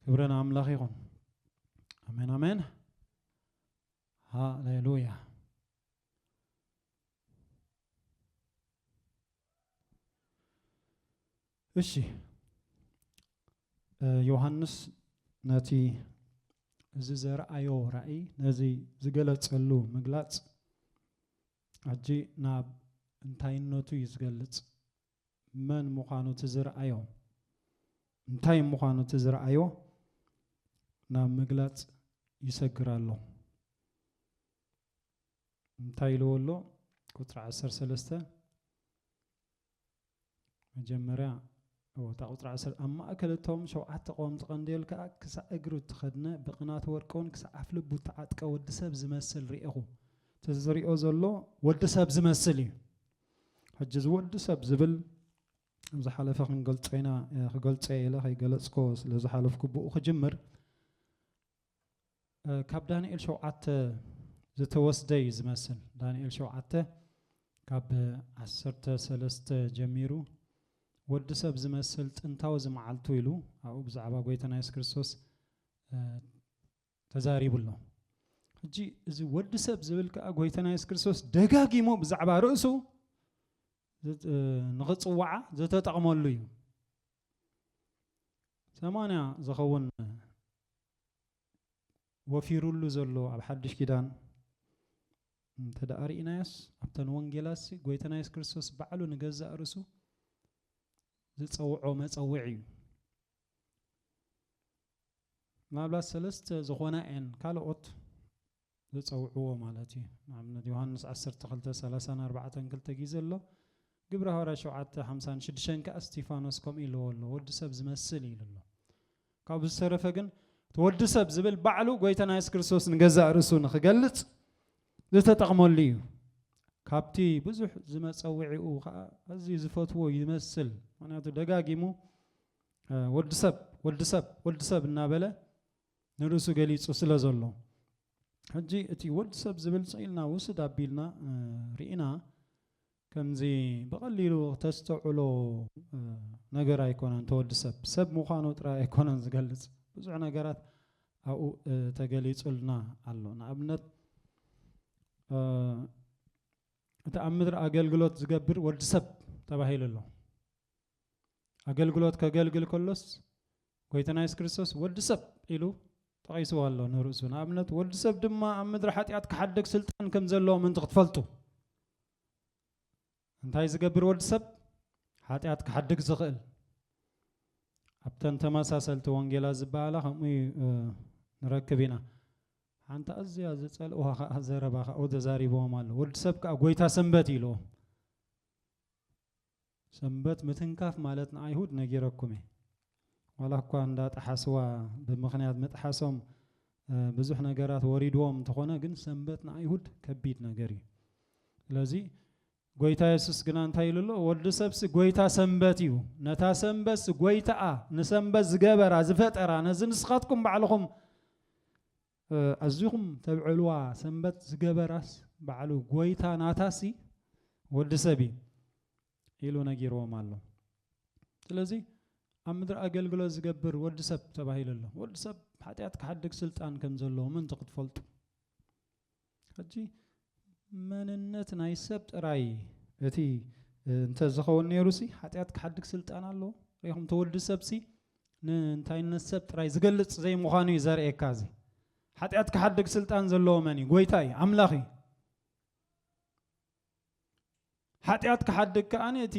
ክብረ ንኣምላኽ ይኹን ኣሜን ኣሜን ሃሌሉያ እሺ ዮሃንስ ነቲ እዚ ዘርኣዮ ራእይ ነዚ ዝገለጸሉ ምግላጽ ሕጂ ናብ እንታይነቱ እዩ ዝገልጽ መን ምዃኑ እቲ ዝረኣዮ እንታይ ምዃኑ እቲ ዝረኣዮ ናብ ምግላፅ ይሰግር ኣሎ እንታይ ኢልዎ ኣሎ ቁፅሪ ዓሰርተ ሰለስተ መጀመርያ እታ ቁፅሪ ዓሰርተ ኣብ ማእከል እቶም ሸውዓተ ቀወምቲ ቀንዴል ከዓ ክሳዕ እግሩ እተኸድነ ብቕናት ወርቅውን ክሳዕ ኣፍልቡ እተዓጥቀ ወዲ ሰብ ዝመስል ርኤኹ እቲ ዝሪኦ ዘሎ ወዲ ሰብ ዝመስል እዩ ሕጂ እዚ ወዲ ሰብ ዝብል ኣብ ዝሓለፈ ክንገልጾ ኢና ክገልጾ ኢለ ከይገለጽኮ ስለ ዝሓለፍኩ ብኡ ክጅምር ካብ ዳንኤል ሸውዓተ ዝተወስደ እዩ ዝመስል ዳንኤል ሸውዓተ ካብ ዓሰርተ ሰለስተ ጀሚሩ ወዲ ሰብ ዝመስል ጥንታዊ ዝመዓልቱ ኢሉ ኣብኡ ብዛዕባ ጎይታና የሱስ ክርስቶስ ተዛሪቡ ኣሎ። ሕጂ እዚ ወዲ ሰብ ዝብል ከኣ ጎይታና የሱስ ክርስቶስ ደጋጊሙ ብዛዕባ ርእሱ ንኽጽውዓ ዝተጠቕመሉ እዩ። ሰማንያ ዝኸውን ወፊሩሉ ዘሎ ኣብ ሓድሽ ኪዳን እንተ ደኣ ርኢናዮስ ኣብተን ወንጌላሲ ጎይታና የሱስ ክርስቶስ ባዕሉ ንገዛእ ርእሱ ዝጸውዖ መጸውዒ እዩ ምናልባት ሰለስተ ዝኾና እየን ካልኦት ዝጸውዕዎ ማለት እዩ ንኣብነት ዮሃንስ ዓሰርተ ክልተ ሰላሳን ኣርባዕተን ክልተ ግዜ ኣሎ ግብረ ሃዋርያ ሸውዓተ ሓምሳን ሽዱሽተን ከኣ እስጢፋኖስ ከምኡ ኢልዎ ኣሎ ወዲ ሰብ ዝመስል ኢሉ ኣሎ ካብኡ ዝተረፈ ግን እቲ ወዲ ሰብ ዝብል ባዕሉ ጎይታና የሱስ ክርስቶስ ንገዛእ ርእሱ ንኽገልጽ ዝተጠቕመሉ እዩ ካብቲ ብዙሕ ዝመፀውዒኡ ከዓ ኣዝዩ ዝፈትዎ ይመስል ምክንያቱ ደጋጊሙ ወዲ ሰብ ወዲ ሰብ ወዲ ሰብ እናበለ ንርእሱ ገሊጹ ስለ ዘሎ ሕጂ እቲ ወዲ ሰብ ዝብል ጽኢልና ውስድ ኣቢልና ርኢና ከምዚ ብቐሊሉ ተስተውዕሎ ነገር ኣይኮነን ተወዲ ሰብ ሰብ ምዃኑ ጥራይ ኣይኮነን ዝገልጽ ብዙሕ ነገራት ኣብኡ ተገሊጹልና ኣሎ ንኣብነት እቲ ኣብ ምድሪ ኣገልግሎት ዝገብር ወዲ ሰብ ተባሂሉ ኣሎ ኣገልግሎት ከገልግል ከሎስ ጎይታና የሱስ ክርስቶስ ወዲ ሰብ ኢሉ ጠቒስዎ ኣሎ ንርእሱ ንኣብነት ወዲ ሰብ ድማ ኣብ ምድሪ ሓጢኣት ክሓደግ ስልጣን ከም ዘለዎ ምእንቲ ክትፈልጡ እንታይ ዝገብር ወዲ ሰብ ሓጢኣት ክሓድግ ዝኽእል ኣብተን ተመሳሰልቲ ወንጌላ ዝበሃላ ከምኡ ንረክብ ኢና ሓንቲ ኣዝያ ዝፀልእዋ ከዓ ዘረባ ካብኡ ተዛሪብዎም ኣሎ ወዲ ሰብ ከዓ ጎይታ ሰንበት ኢልዎ ሰንበት ምትንካፍ ማለት ንኣይሁድ ነጊረኩም እየ፣ ዋላ እኳ እንዳ ጠሓስዋ ብምኽንያት ምጥሓሶም ብዙሕ ነገራት ወሪድዎም እንተኾነ ግን ሰንበት ንኣይሁድ ከቢድ ነገር እዩ። ስለዚ ጎይታ የሱስ ግና እንታይ ኢሉ ኣሎ? ወዲ ሰብሲ ጎይታ ሰንበት እዩ፣ ነታ ሰንበትሲ ጎይታኣ ንሰንበት ዝገበራ ዝፈጠራ ነዚ ንስኻትኩም ባዕልኹም ኣዚኹም ተብዕልዋ ሰንበት ዝገበራስ ባዕሉ ጎይታ ናታሲ ወዲ ሰብ እዩ ኢሉ ነጊርዎም ኣሎ ስለዚ ኣብ ምድሪ ኣገልግሎት ዝገብር ወዲ ሰብ ተባሂሉ ኣሎ ወዲ ሰብ ሓጢኣት ክሓድግ ስልጣን ከም ዘለዎ ምእንቲ ክትፈልጡ ሕጂ መንነት ናይ ሰብ ጥራይ እቲ እንተ ዝኸውን ነይሩሲ ሓጢኣት ክሓድግ ስልጣን ኣለዎ ሪኹም ተወዲ ሰብሲ ንእንታይነት ሰብ ጥራይ ዝገልጽ ዘይምዃኑ እዩ ዘርእየካ እዚ ሓጢኣት ክሓድግ ስልጣን ዘለዎ መን እዩ ጎይታ እዩ ኣምላኽ እዩ ሓጢኣት ክሓድግ ከኣ እቲ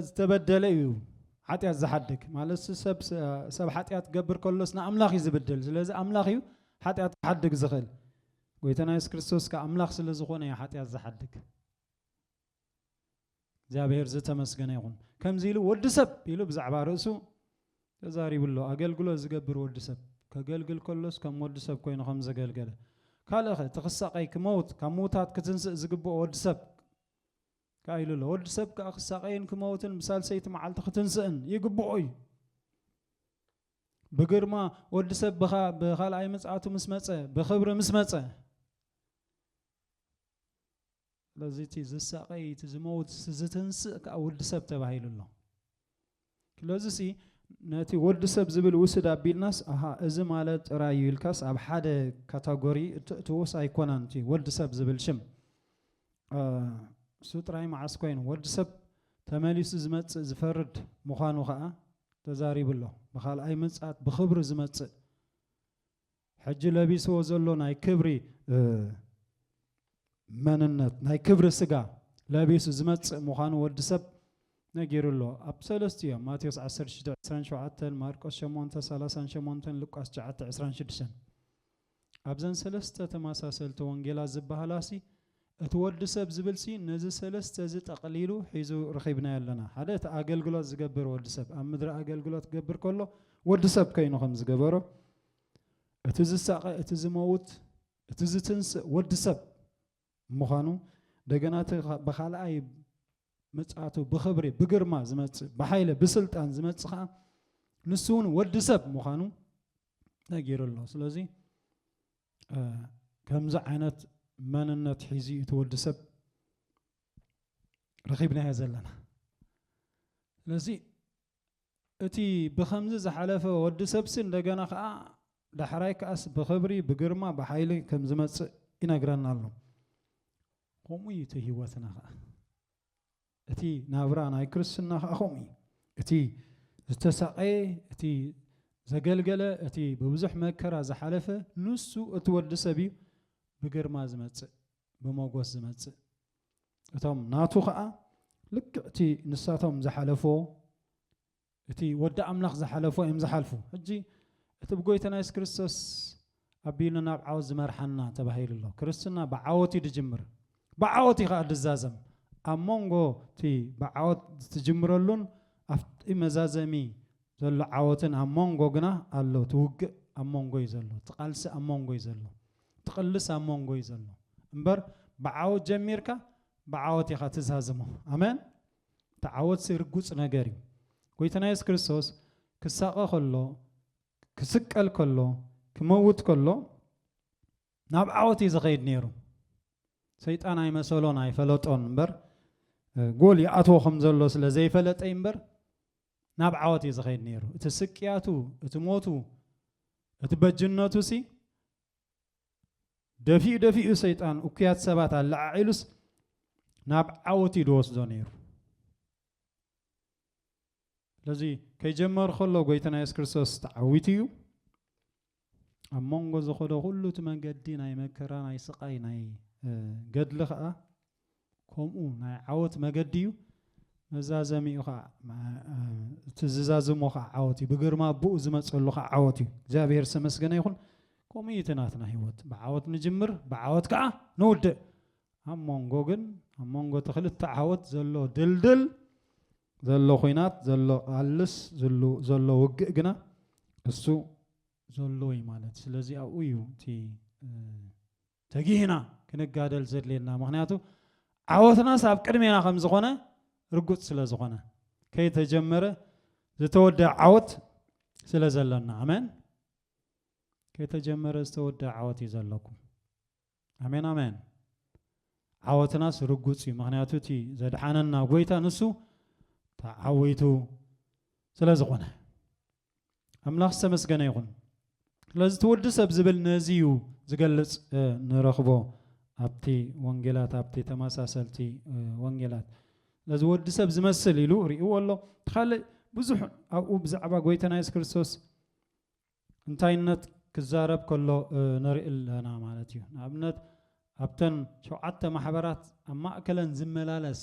ዝተበደለ እዩ ሓጢኣት ዝሓድግ ማለት ሰብ ሰብ ሓጢኣት ገብር ከሎስ ንኣምላኽ እዩ ዝብድል ስለዚ ኣምላኽ እዩ ሓጢኣት ክሓድግ ዝኽእል ጎይታና የሱስ ክርስቶስ ከ ኣምላኽ ስለ ዝኾነ እዩ ሓጢኣት ዝሓድግ እግዚኣብሔር ዝተመስገነ ይኹን ከምዚ ኢሉ ወዲ ሰብ ኢሉ ብዛዕባ ርእሱ ተዛሪቡ ኣሎ። ኣገልግሎት ዝገብር ወዲ ሰብ ከገልግል ከሎስ ከም ወዲ ሰብ ኮይኑ ከም ዘገልገለ ካልእኸ እቲ ክሳቐይ ክመውት ካብ ምውታት ክትንስእ ዝግብኦ ወዲ ሰብ ከኣ ኢሉ ኣሎ። ወዲ ሰብ ከኣ ክሳቐይን ክመውትን ብሳልሰይቲ መዓልቲ ክትንስእን ይግብኦ እዩ። ብግርማ ወዲ ሰብ ብኻ ብኻልኣይ ምጽኣቱ ምስ መጸ ብኽብሪ ምስ መጸ ስለዚ እቲ ዝሳቐይ እቲ ዝመውት እቲ ዝትንስእ ከኣ ወዲ ሰብ ተባሂሉ ኣሎ ስለዚሲ ነቲ ወዲ ሰብ ዝብል ውስድ ኣቢልናስ ኣሃ እዚ ማለት ጥራይ እዩ ኢልካስ ኣብ ሓደ ካታጎሪ እተእትዎስ ኣይኮነን እቲ ወዲ ሰብ ዝብል ሽም እሱ ጥራይ መዓስ ኮይኑ ወዲ ሰብ ተመሊሱ ዝመጽእ ዝፈርድ ምዃኑ ከኣ ተዛሪቡ ኣሎ ብካልኣይ ምጽኣት ብኽብሪ ዝመጽእ ሕጂ ለቢስዎ ዘሎ ናይ ክብሪ መንነት ናይ ክብሪ ስጋ ለቢሱ ዝመጽእ ምዃኑ ወዲ ሰብ ነጊሩ ኣሎ ኣብ ሰለስቲ እዮም ማቴዎስ 1627 ማርቆስ 838 ሉቃስ 926 ኣብዘን ሰለስተ ተመሳሰልቲ ወንጌላት ዝበሃላሲ እቲ ወዲ ሰብ ዝብልሲ ነዚ ሰለስተ እዚ ጠቕሊሉ ሒዙ ረኺብናዮ ኣለና ሓደ እቲ ኣገልግሎት ዝገብር ወዲ ሰብ ኣብ ምድሪ ኣገልግሎት ክገብር ከሎ ወዲ ሰብ ከይኑ ከም ዝገበሮ እቲ ዝሳቐ እቲ ዝመውት እቲ ዝትንስእ ወዲ ሰብ ምዃኑ እንደገና እቲ ብኻልኣይ ምጽኣቱ ብኽብሪ ብግርማ ዝመጽእ ብሓይለ ብስልጣን ዝመጽእ ከዓ ንሱ እውን ወዲ ሰብ ምዃኑ ነጊሩ ኣሎ ስለዚ ከምዚ ዓይነት መንነት ሒዙ እቲ ወዲ ሰብ ረኺብናዮ ዘለና ስለዚ እቲ ብኸምዚ ዝሓለፈ ወዲ ሰብሲ እንደገና ከኣ ዳሕራይ ከኣስ ብኽብሪ ብግርማ ብሓይሊ ከም ዝመጽእ ይነግረና ኣሎ። ከምኡ እዩ እቲ ህይወትና ከኣ። እቲ ናብራ ናይ ክርስትና ከኣ ከምኡ እዩ። እቲ ዝተሳቐየ እቲ ዘገልገለ እቲ ብብዙሕ መከራ ዝሓለፈ ንሱ እቲ ወዲ ሰብ እዩ ብግርማ ዝመጽእ ብመጎስ ዝመጽእ። እቶም ናቱ ኸኣ ልክዕ እቲ ንሳቶም ዝሓለፎ እቲ ወዲ ኣምላኽ ዝሓለፎ እዮም ዝሓልፉ ሕጂ እቲ ብጎይታና የሱስ ክርስቶስ ኣቢሉ ናብ ዓወት ዝመርሓና ተባሂሉ ኣሎ ክርስትና ብዓወት እዩ ዝጅምር ብዓወት እዩ ከዓ ዝዛዘም ኣብ መንጎ እቲ ብዓወት ዝትጅምረሉን ኣብቲ መዛዘሚ ዘሎ ዓወትን ኣብ መንጎ ግና ኣሎ እቲ ውግእ ኣብ መንጎ እዩ ዘሎ እቲ ቃልሲ ኣብ መንጎ እዩ ዘሎ ትቅልስ ኣብ ሞንጎ እዩ ዘሎ እምበር ብዓወት ጀሚርካ ብዓወት ኢኻ ትዛዝሞ ኣመን እቲ ዓወትሲ ርጉጽ ነገር እዩ ጎይታና የሱስ ክርስቶስ ክሳቀ ከሎ ክስቀል ከሎ ክመውት ከሎ ናብ ዓወት እዩ ዝኸይድ ነይሩ ሰይጣን ኣይመሰሎን ኣይፈለጦን እምበር ጎል ይኣትዎ ከም ዘሎ ስለ ዘይፈለጠ እምበር ናብ ዓወት እዩ ዝኸይድ ነይሩ። እቲ ስቅያቱ፣ እቲ ሞቱ፣ እቲ በጅነቱሲ ደፊኡ ደፊኡ ሰይጣን እኩያት ሰባት ኣለዓዒሉስ ናብ ዓወት እዩ ዝወስዶ ነይሩ። ስለዚ ከይጀመር ከሎ ጎይታና የሱስ ክርስቶስ ተዓዊቱ እዩ። ኣብ መንጎ ዝኸዶ ኩሉ እቲ መንገዲ ናይ መከራ ናይ ስቓይ ናይ ገድሊ ኸኣ ከምኡ ናይ ዓወት መገዲ እዩ መዛዘሚኡ ኸኣ እቲ ዝዛዝሞ ኸዓ ዓወት እዩ ብግርማ ኣቦኡ ዝመጸሉ ኸዓ ዓወት እዩ እግዚኣብሔር ዝተመስገነ ይኹን ከምኡ እዩ እቲ ናትና ህይወት ብዓወት ንጅምር ብዓወት ከዓ ንውድእ ኣብ መንጎ ግን ኣብ መንጎ እቲ ክልተ ዓወት ዘሎ ድልድል ዘሎ ኹናት ዘሎ ቃልስ ዝሉ ዘሎ ውግእ ግና እሱ ዘሎ እዩ ማለት ስለዚ ኣብኡ እዩ እቲ ተጊህና ክንጋደል ዘድልየና ምክንያቱ ዓወትናስ ኣብ ቅድሜና ከም ዝኾነ ርጉፅ ስለ ዝኾነ ከይተጀመረ ዝተወደኣ ዓወት ስለ ዘለና ኣመን ከይተጀመረ ዝተወደኣ ዓወት እዩ ዘለኩም ኣሜን ኣሜን ዓወትናስ ርጉጽ እዩ ምክንያቱ እቲ ዘድሓነና ጎይታ ንሱ ተዓዊቱ ስለ ዝኾነ ኣምላኽ ዝተመስገነ ይኹን ስለዚ እቲ ወዲ ሰብ ዝብል ነዚ እዩ ዝገልጽ ንረኽቦ ኣብቲ ወንጌላት ኣብቲ ተመሳሰልቲ ወንጌላት ስለዚ ወዲ ሰብ ዝመስል ኢሉ ርእዎ ኣሎ እቲ ካልእ ብዙሕ ኣብኡ ብዛዕባ ጎይታና የሱስ ክርስቶስ እንታይነት ክዛረብ ከሎ ንርኢ ኣለና ማለት እዩ። ንኣብነት ኣብተን ሸውዓተ ማሕበራት ኣብ ማእከለን ዝመላለስ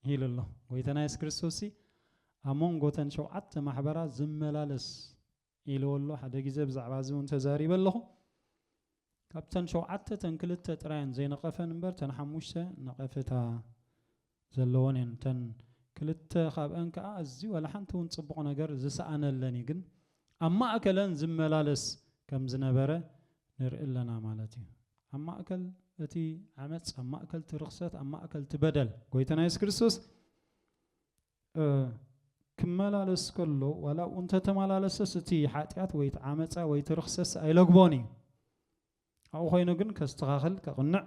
ኢሉ ኣሎ። ጎይታና የሱስ ክርስቶስሲ ኣብ መንጎተን ሸውዓተ ማሕበራት ዝመላለስ ኢልዎ ኣሎ። ሓደ ግዜ ብዛዕባ እዚ እውን ተዛሪበ ኣለኹ። ካብተን ሸውዓተ እተን ክልተ ጥራየን ዘይነቐፈን እምበር እተን ሓሙሽተ ነቐፌታ ዘለወን እየን። እተን ክልተ ካብኣን ከኣ ኣዝዩ ዋላ ሓንቲ እውን ጽቡቕ ነገር ዝሰኣነለን እዩ። ግን ኣብ ማእከለን ዝመላለስ ከም ዝነበረ ንርኢ ኣለና ማለት እዩ። ኣብ ማእከል እቲ ዓመጽ፣ ኣብ ማእከል እቲ ርኽሰት፣ ኣብ ማእከል እቲ በደል፣ ጎይታና የሱስ ክርስቶስ ክመላለስ ከሎ ዋላ ኣብኡ እንተተመላለሰስ እቲ ሓጢኣት ወይ እቲ ዓመፃ ወይ እቲ ርኽሰስ ኣይለግቦን እዩ ኣብኡ ኮይኑ ግን ከስተኻኽል ከቕንዕ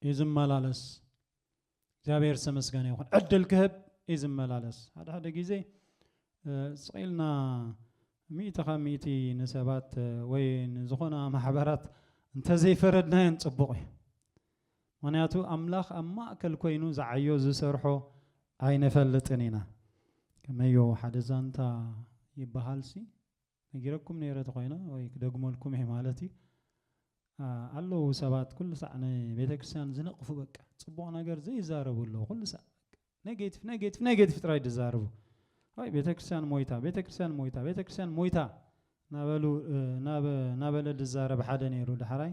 እዩ ዝመላለስ እግዚኣብሔር ዝተመስገነ ይኹን ዕድል ክህብ እዩ ዝመላለስ ሓደ ሓደ ግዜ ስቂልና ሚእቲ ካብ ሚእቲ ንሰባት ወይ ንዝኾና ማሕበራት እንተዘይፈረድናየን ፅቡቕ እዩ ምኽንያቱ ኣምላኽ ኣብ ማእከል ኮይኑ ዝዓዮ ዝሰርሖ ኣይንፈልጥን ኢና። ከመዮ ሓደ ዛንታ ይበሃል ሲ ነጊረኩም ነይረ ተኾይነ ወይ ክደግመልኩም እየ ማለት እዩ ኣለዉ ሰባት ኩሉ ሳዕ ንቤተክርስትያን ዝነቕፉ በቃ ጽቡቕ ነገር ዘይዛረቡ ኣለዉ ኩሉ ሳዕ ኔጌቲቭ ኔጌቲቭ ኔጌቲቭ ጥራይ ዝዛረቡ ኣይ ቤተ ክርስቲያን ሞይታ ቤተ ክርስቲያን ሞይታ ቤተ ክርስቲያን ሞይታ ናበሉ ናበለ ዝዛረብ ሓደ ነይሩ ዳሕራይ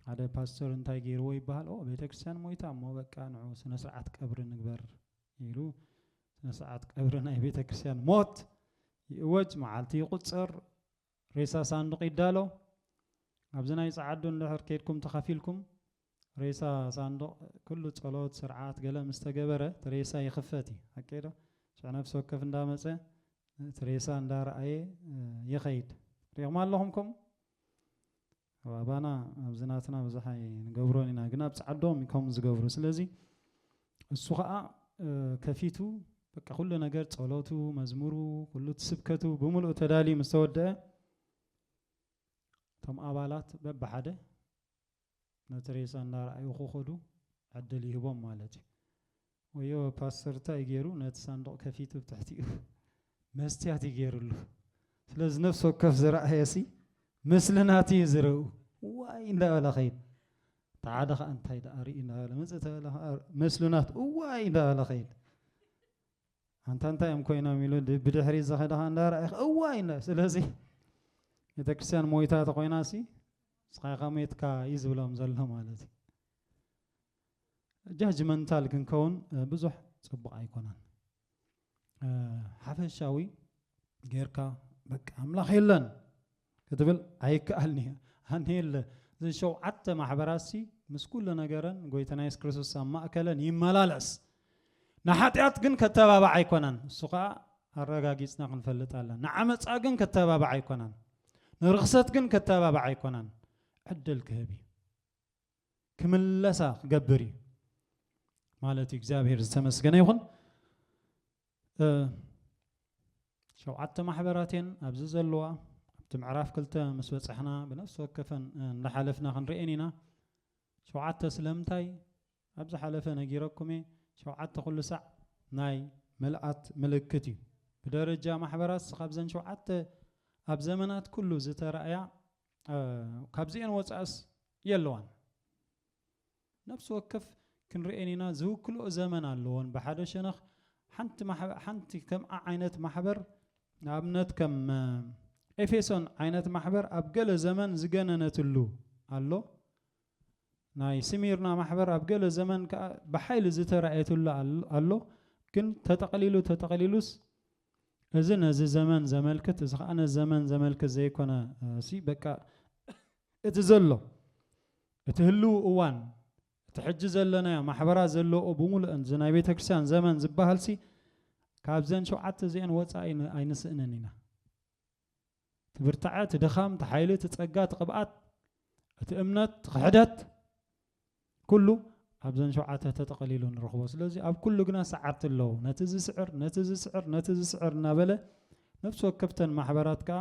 ሓደ ፓስተር እንታይ ገይርዎ ይበሃል ኦ ቤተ ክርስቲያን ሞይታ እሞ በቃ ንዑ ስነ ስርዓት ቀብሪ ንግበር ኢሉ ስነ ስርዓት ቀብሪ ናይ ቤተ ክርስቲያን ሞት ይእወጅ መዓልቲ ይቁፅር ሬሳ ሳንዱቕ ይዳሎ። ኣብዚ ናይ ጸዓዱ እንድሕር ኬድኩም ተኻፊልኩም ሬሳ ሳንዱቕ ኩሉ ጸሎት ስርዓት ገለ ምስ ተገበረ እቲ ሬሳ ይኽፈት እዩ ሓቀይ ዶ ሽዑ ነፍሲ ወከፍ እንዳመጸ እቲ ሬሳ እንዳረኣየ ይኸይድ ሪኹም ኣለኹም ከምኡ ኣብ ኣባና ኣብዚ ናትና ብዙሕ ኣይንገብሮን ኢና ግን ኣብ ጻዓዶም እዩ ከምኡ ዝገብሩ ስለዚ እሱ ከኣ ከፊቱ በቃ ኩሉ ነገር ጸሎቱ መዝሙሩ ኩሉ እቲ ስብከቱ ብምሉኡ ተዳልዩ ምስ ተወደአ እቶም ኣባላት በብሓደ ነቲ ሬሳ እናረኣዩ ክኸዱ ዕድል ይህቦም ማለት እዩ ወዮ ፓስተር ታይ እዩ ገይሩ ነቲ ሳንዱቕ ከፊቱ ብ ትሕቲኡ መስትያት እዩ ገይርሉ ስለዚ ነፍሲ ወከፍ ዝረኣየሲ ምስሊ ናቱ እዩ ዝረኡ ዋይ እንዳበለ ከይድ እቲ ሓደ ከዓ እንታይ ደኣ ርኢ እንዳበለ መፅእ ተበለ ከዓ ምስሊ ናቱ እዋይ እንዳበለ ከይድ ኣንታ እንታይ እዮም ኮይኖም ኢሉ ብድሕሪ ዝኸደ ከዓ እንዳረኣየ እዋይ እንዳ ስለዚ ቤተ ክርስቲያን ሞይታ ተኮይናሲ ስኻይካ ሞትካ እዩ ዝብሎም ዘሎ ማለት እዩ ጃጅመንታል ክንከውን ብዙሕ ፅቡቕ ኣይኮነን። ሓፈሻዊ ጌርካ በቃ ኣምላኽ የለን ክትብል ኣይከኣልኒ ኣነ የለ እዘን ሸውዓተ ማሕበራሲ ምስ ኩሉ ነገረን ጎይታና የሱስ ክርስቶስ ኣብ ማእከለን ይመላለስ ንሓጢኣት ግን ከተባባዕ ኣይኮነን እሱ ከዓ ኣረጋጊፅና ክንፈልጥ ኣለና ንዓመፃ ግን ከተባባዕ ኣይኮነን ንርኽሰት ግን ከተባባዕ ኣይኮነን ዕድል ክህብ እዩ ክምለሳ ክገብር እዩ ማለት እዩ እግዚኣብሔር ዝተመስገነ ይኹን ሸውዓተ ማሕበራት እየን ኣብዚ ዘለዋ ኣብቲ ምዕራፍ ክልተ ምስ በፅሕና ብነፍሲ ወከፈን እንዳሓለፍና ክንርኤን ኢና ሸውዓተ ስለምንታይ ኣብ ዝሓለፈ ነጊረኩም እየ ሸውዓተ ኩሉ ሳዕ ናይ ምልኣት ምልክት እዩ ብደረጃ ማሕበራት ካብዘን ሸውዓተ ኣብ ዘመናት ኩሉ ዝተረእያ ካብዚኤን ወጻእስ የለዋን። ነፍሲ ወከፍ ክንርኤን ኢና ዝውክልኦ ዘመን ኣለዎን ብሓደ ሸነኽ ሓንቲ ማሕበር ሓንቲ ከምኣ ዓይነት ማሕበር ንኣብነት ከም ኤፌሶን ዓይነት ማሕበር ኣብ ገለ ዘመን ዝገነነትሉ ኣሎ ናይ ስሚርና ማሕበር ኣብ ገለ ዘመን ከዓ ብሓይሊ ዝተራእየትሉ ኣሎ ግን ተጠቕሊሉ ተጠቕሊሉስ እዚ ነዚ ዘመን ዘመልክት እዚ ከኣ ነዚ ዘመን ዘመልክት ዘይኮነ ሲ በቃ እቲ ዘሎ እቲ ህልው እዋን እቲ ሕጂ ዘለናዮ ማሕበራት ዘለኦ ብምሉእን እዚ ናይ ቤተ ክርስቲያን ዘመን ዝበሃልሲ ካብዘን ሸውዓተ እዚኤን ወፃኢ ኣይንስእንን ኢና። እቲ ብርታዐ፣ እቲ ድኻም፣ እቲ ሓይሊ፣ እቲ ጸጋ፣ እቲ ቅብኣት፣ እቲ እምነት፣ እቲ ክሕደት ኩሉ ኣብዘን ሸውዓተ ተጠቐሊሉ ንረኽቦ። ስለዚ ኣብ ኩሉ ግና ሰዓርቲ ኣለዉ። ነቲ ዝስዕር፣ ነቲ ዝስዕር፣ ነቲ ዝስዕር እናበለ ነፍሲ ወከፍተን ማሕበራት ከኣ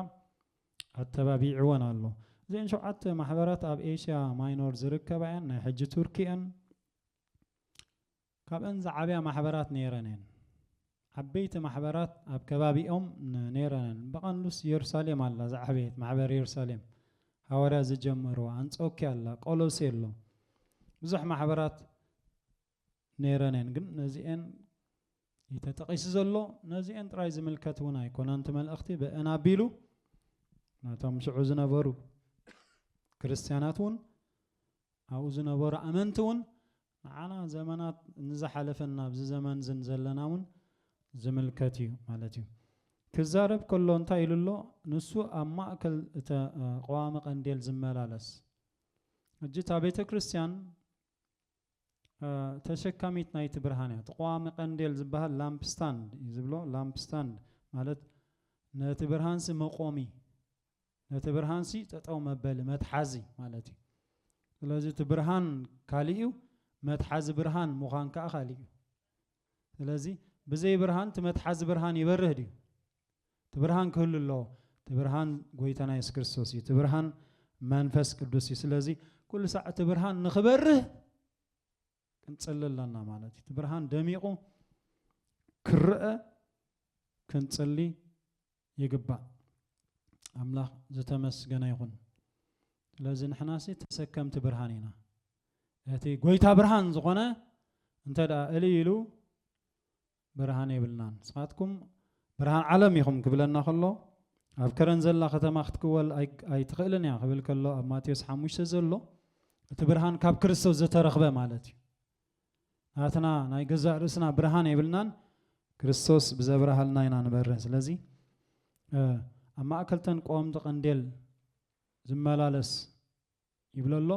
ኣተባቢዕወን ኣሎ። እዚኤን ሸውዓተ ማሕበራት ኣብ ኤሽያ ማይኖር ዝርከባ እየን፣ ናይ ሕጂ ቱርኪ እየን። ካብእን ዝዓብያ ማሕበራት ነይረን እየን። ዓበይቲ ማሕበራት ኣብ ከባቢኦም ነይረነን። ብቐንዱስ የሩሳሌም ኣላ ዝዓበየት ማሕበር የሩሳሌም ሃዋርያት ዝጀመርዋ፣ ኣንጾክያ ኣላ፣ ቆሎሴ ኣሎ። ብዙሕ ማሕበራት ነይረን እየን። ግን ነዚኤን እዩ ተጠቒሱ ዘሎ። ነዚኤን ጥራይ ዝምልከት እውን ኣይኮነን እቲ መልእኽቲ ብእን ኣቢሉ ነቶም ሽዑ ዝነበሩ ክርስትያናት እውን ኣብኡ ዝነበሩ ኣመንቲ እውን ንዓና ዘመናት ንዝሓለፈን ናብዚ ዘመንዝን ዘለና እውን ዝምልከት እዩ ማለት እዩ። ክዛረብ ከሎ እንታይ ኢሉ ኣሎ? ንሱ ኣብ ማእከል እተ ቐዋሚ ቀንዴል ዝመላለስ። ሕጂ እታ ቤተ ክርስቲያን ተሸካሚት ናይቲ ብርሃን እያ። እቲ ቐዋሚ ቀንዴል ዝበሃል ላምፕ ስታንድ እዩ ዝብሎ። ላምፕ ስታንድ ማለት ነቲ ብርሃንሲ መቆሚ ነቲ ብርሃንሲ ጠጠው መበሊ መትሓዚ ማለት እዩ። ስለዚ እቲ ብርሃን ካሊእ እዩ፣ መትሓዚ ብርሃን ምዃን ከዓ ካሊእ እዩ። ስለዚ ብዘይ ብርሃን እቲ መትሓዚ ብርሃን ይበርህ ድዩ? እቲ ብርሃን ክህሉ ኣለዎ። እቲ ብርሃን ጎይታና የሱስ ክርስቶስ እዩ። እቲ ብርሃን መንፈስ ቅዱስ እዩ። ስለዚ ኩሉ ሳዕ እቲ ብርሃን ንክበርህ ክንጽሊ ኣለና ማለት እዩ። እቲ ብርሃን ደሚቑ ክረአ ክንጽሊ ይግባእ። ኣምላኽ ዝተመስገነ ይኹን። ስለዚ ንሕናሲ ተሰከምቲ ብርሃን ኢና። እቲ ጎይታ ብርሃን ዝኾነ እንተ ደኣ እልይ ኢሉ ብርሃን የብልናን ንስኻትኩም ብርሃን ዓለም ኢኹም ክብለና ከሎ ኣብ ከረን ዘላ ከተማ ክትክወል ኣይትኽእልን እያ ክብል ከሎ ኣብ ማቴዎስ ሓሙሽተ ዘሎ እቲ ብርሃን ካብ ክርስቶስ ዘተረኽበ ማለት እዩ ናትና ናይ ገዛእ ርእስና ብርሃን የብልናን ክርስቶስ ብዘብርሃልና ኢና ንበርህ ስለዚ ኣብ ማእከልተን ቆወምቲ ቀንዴል ዝመላለስ ይብሎ ኣሎ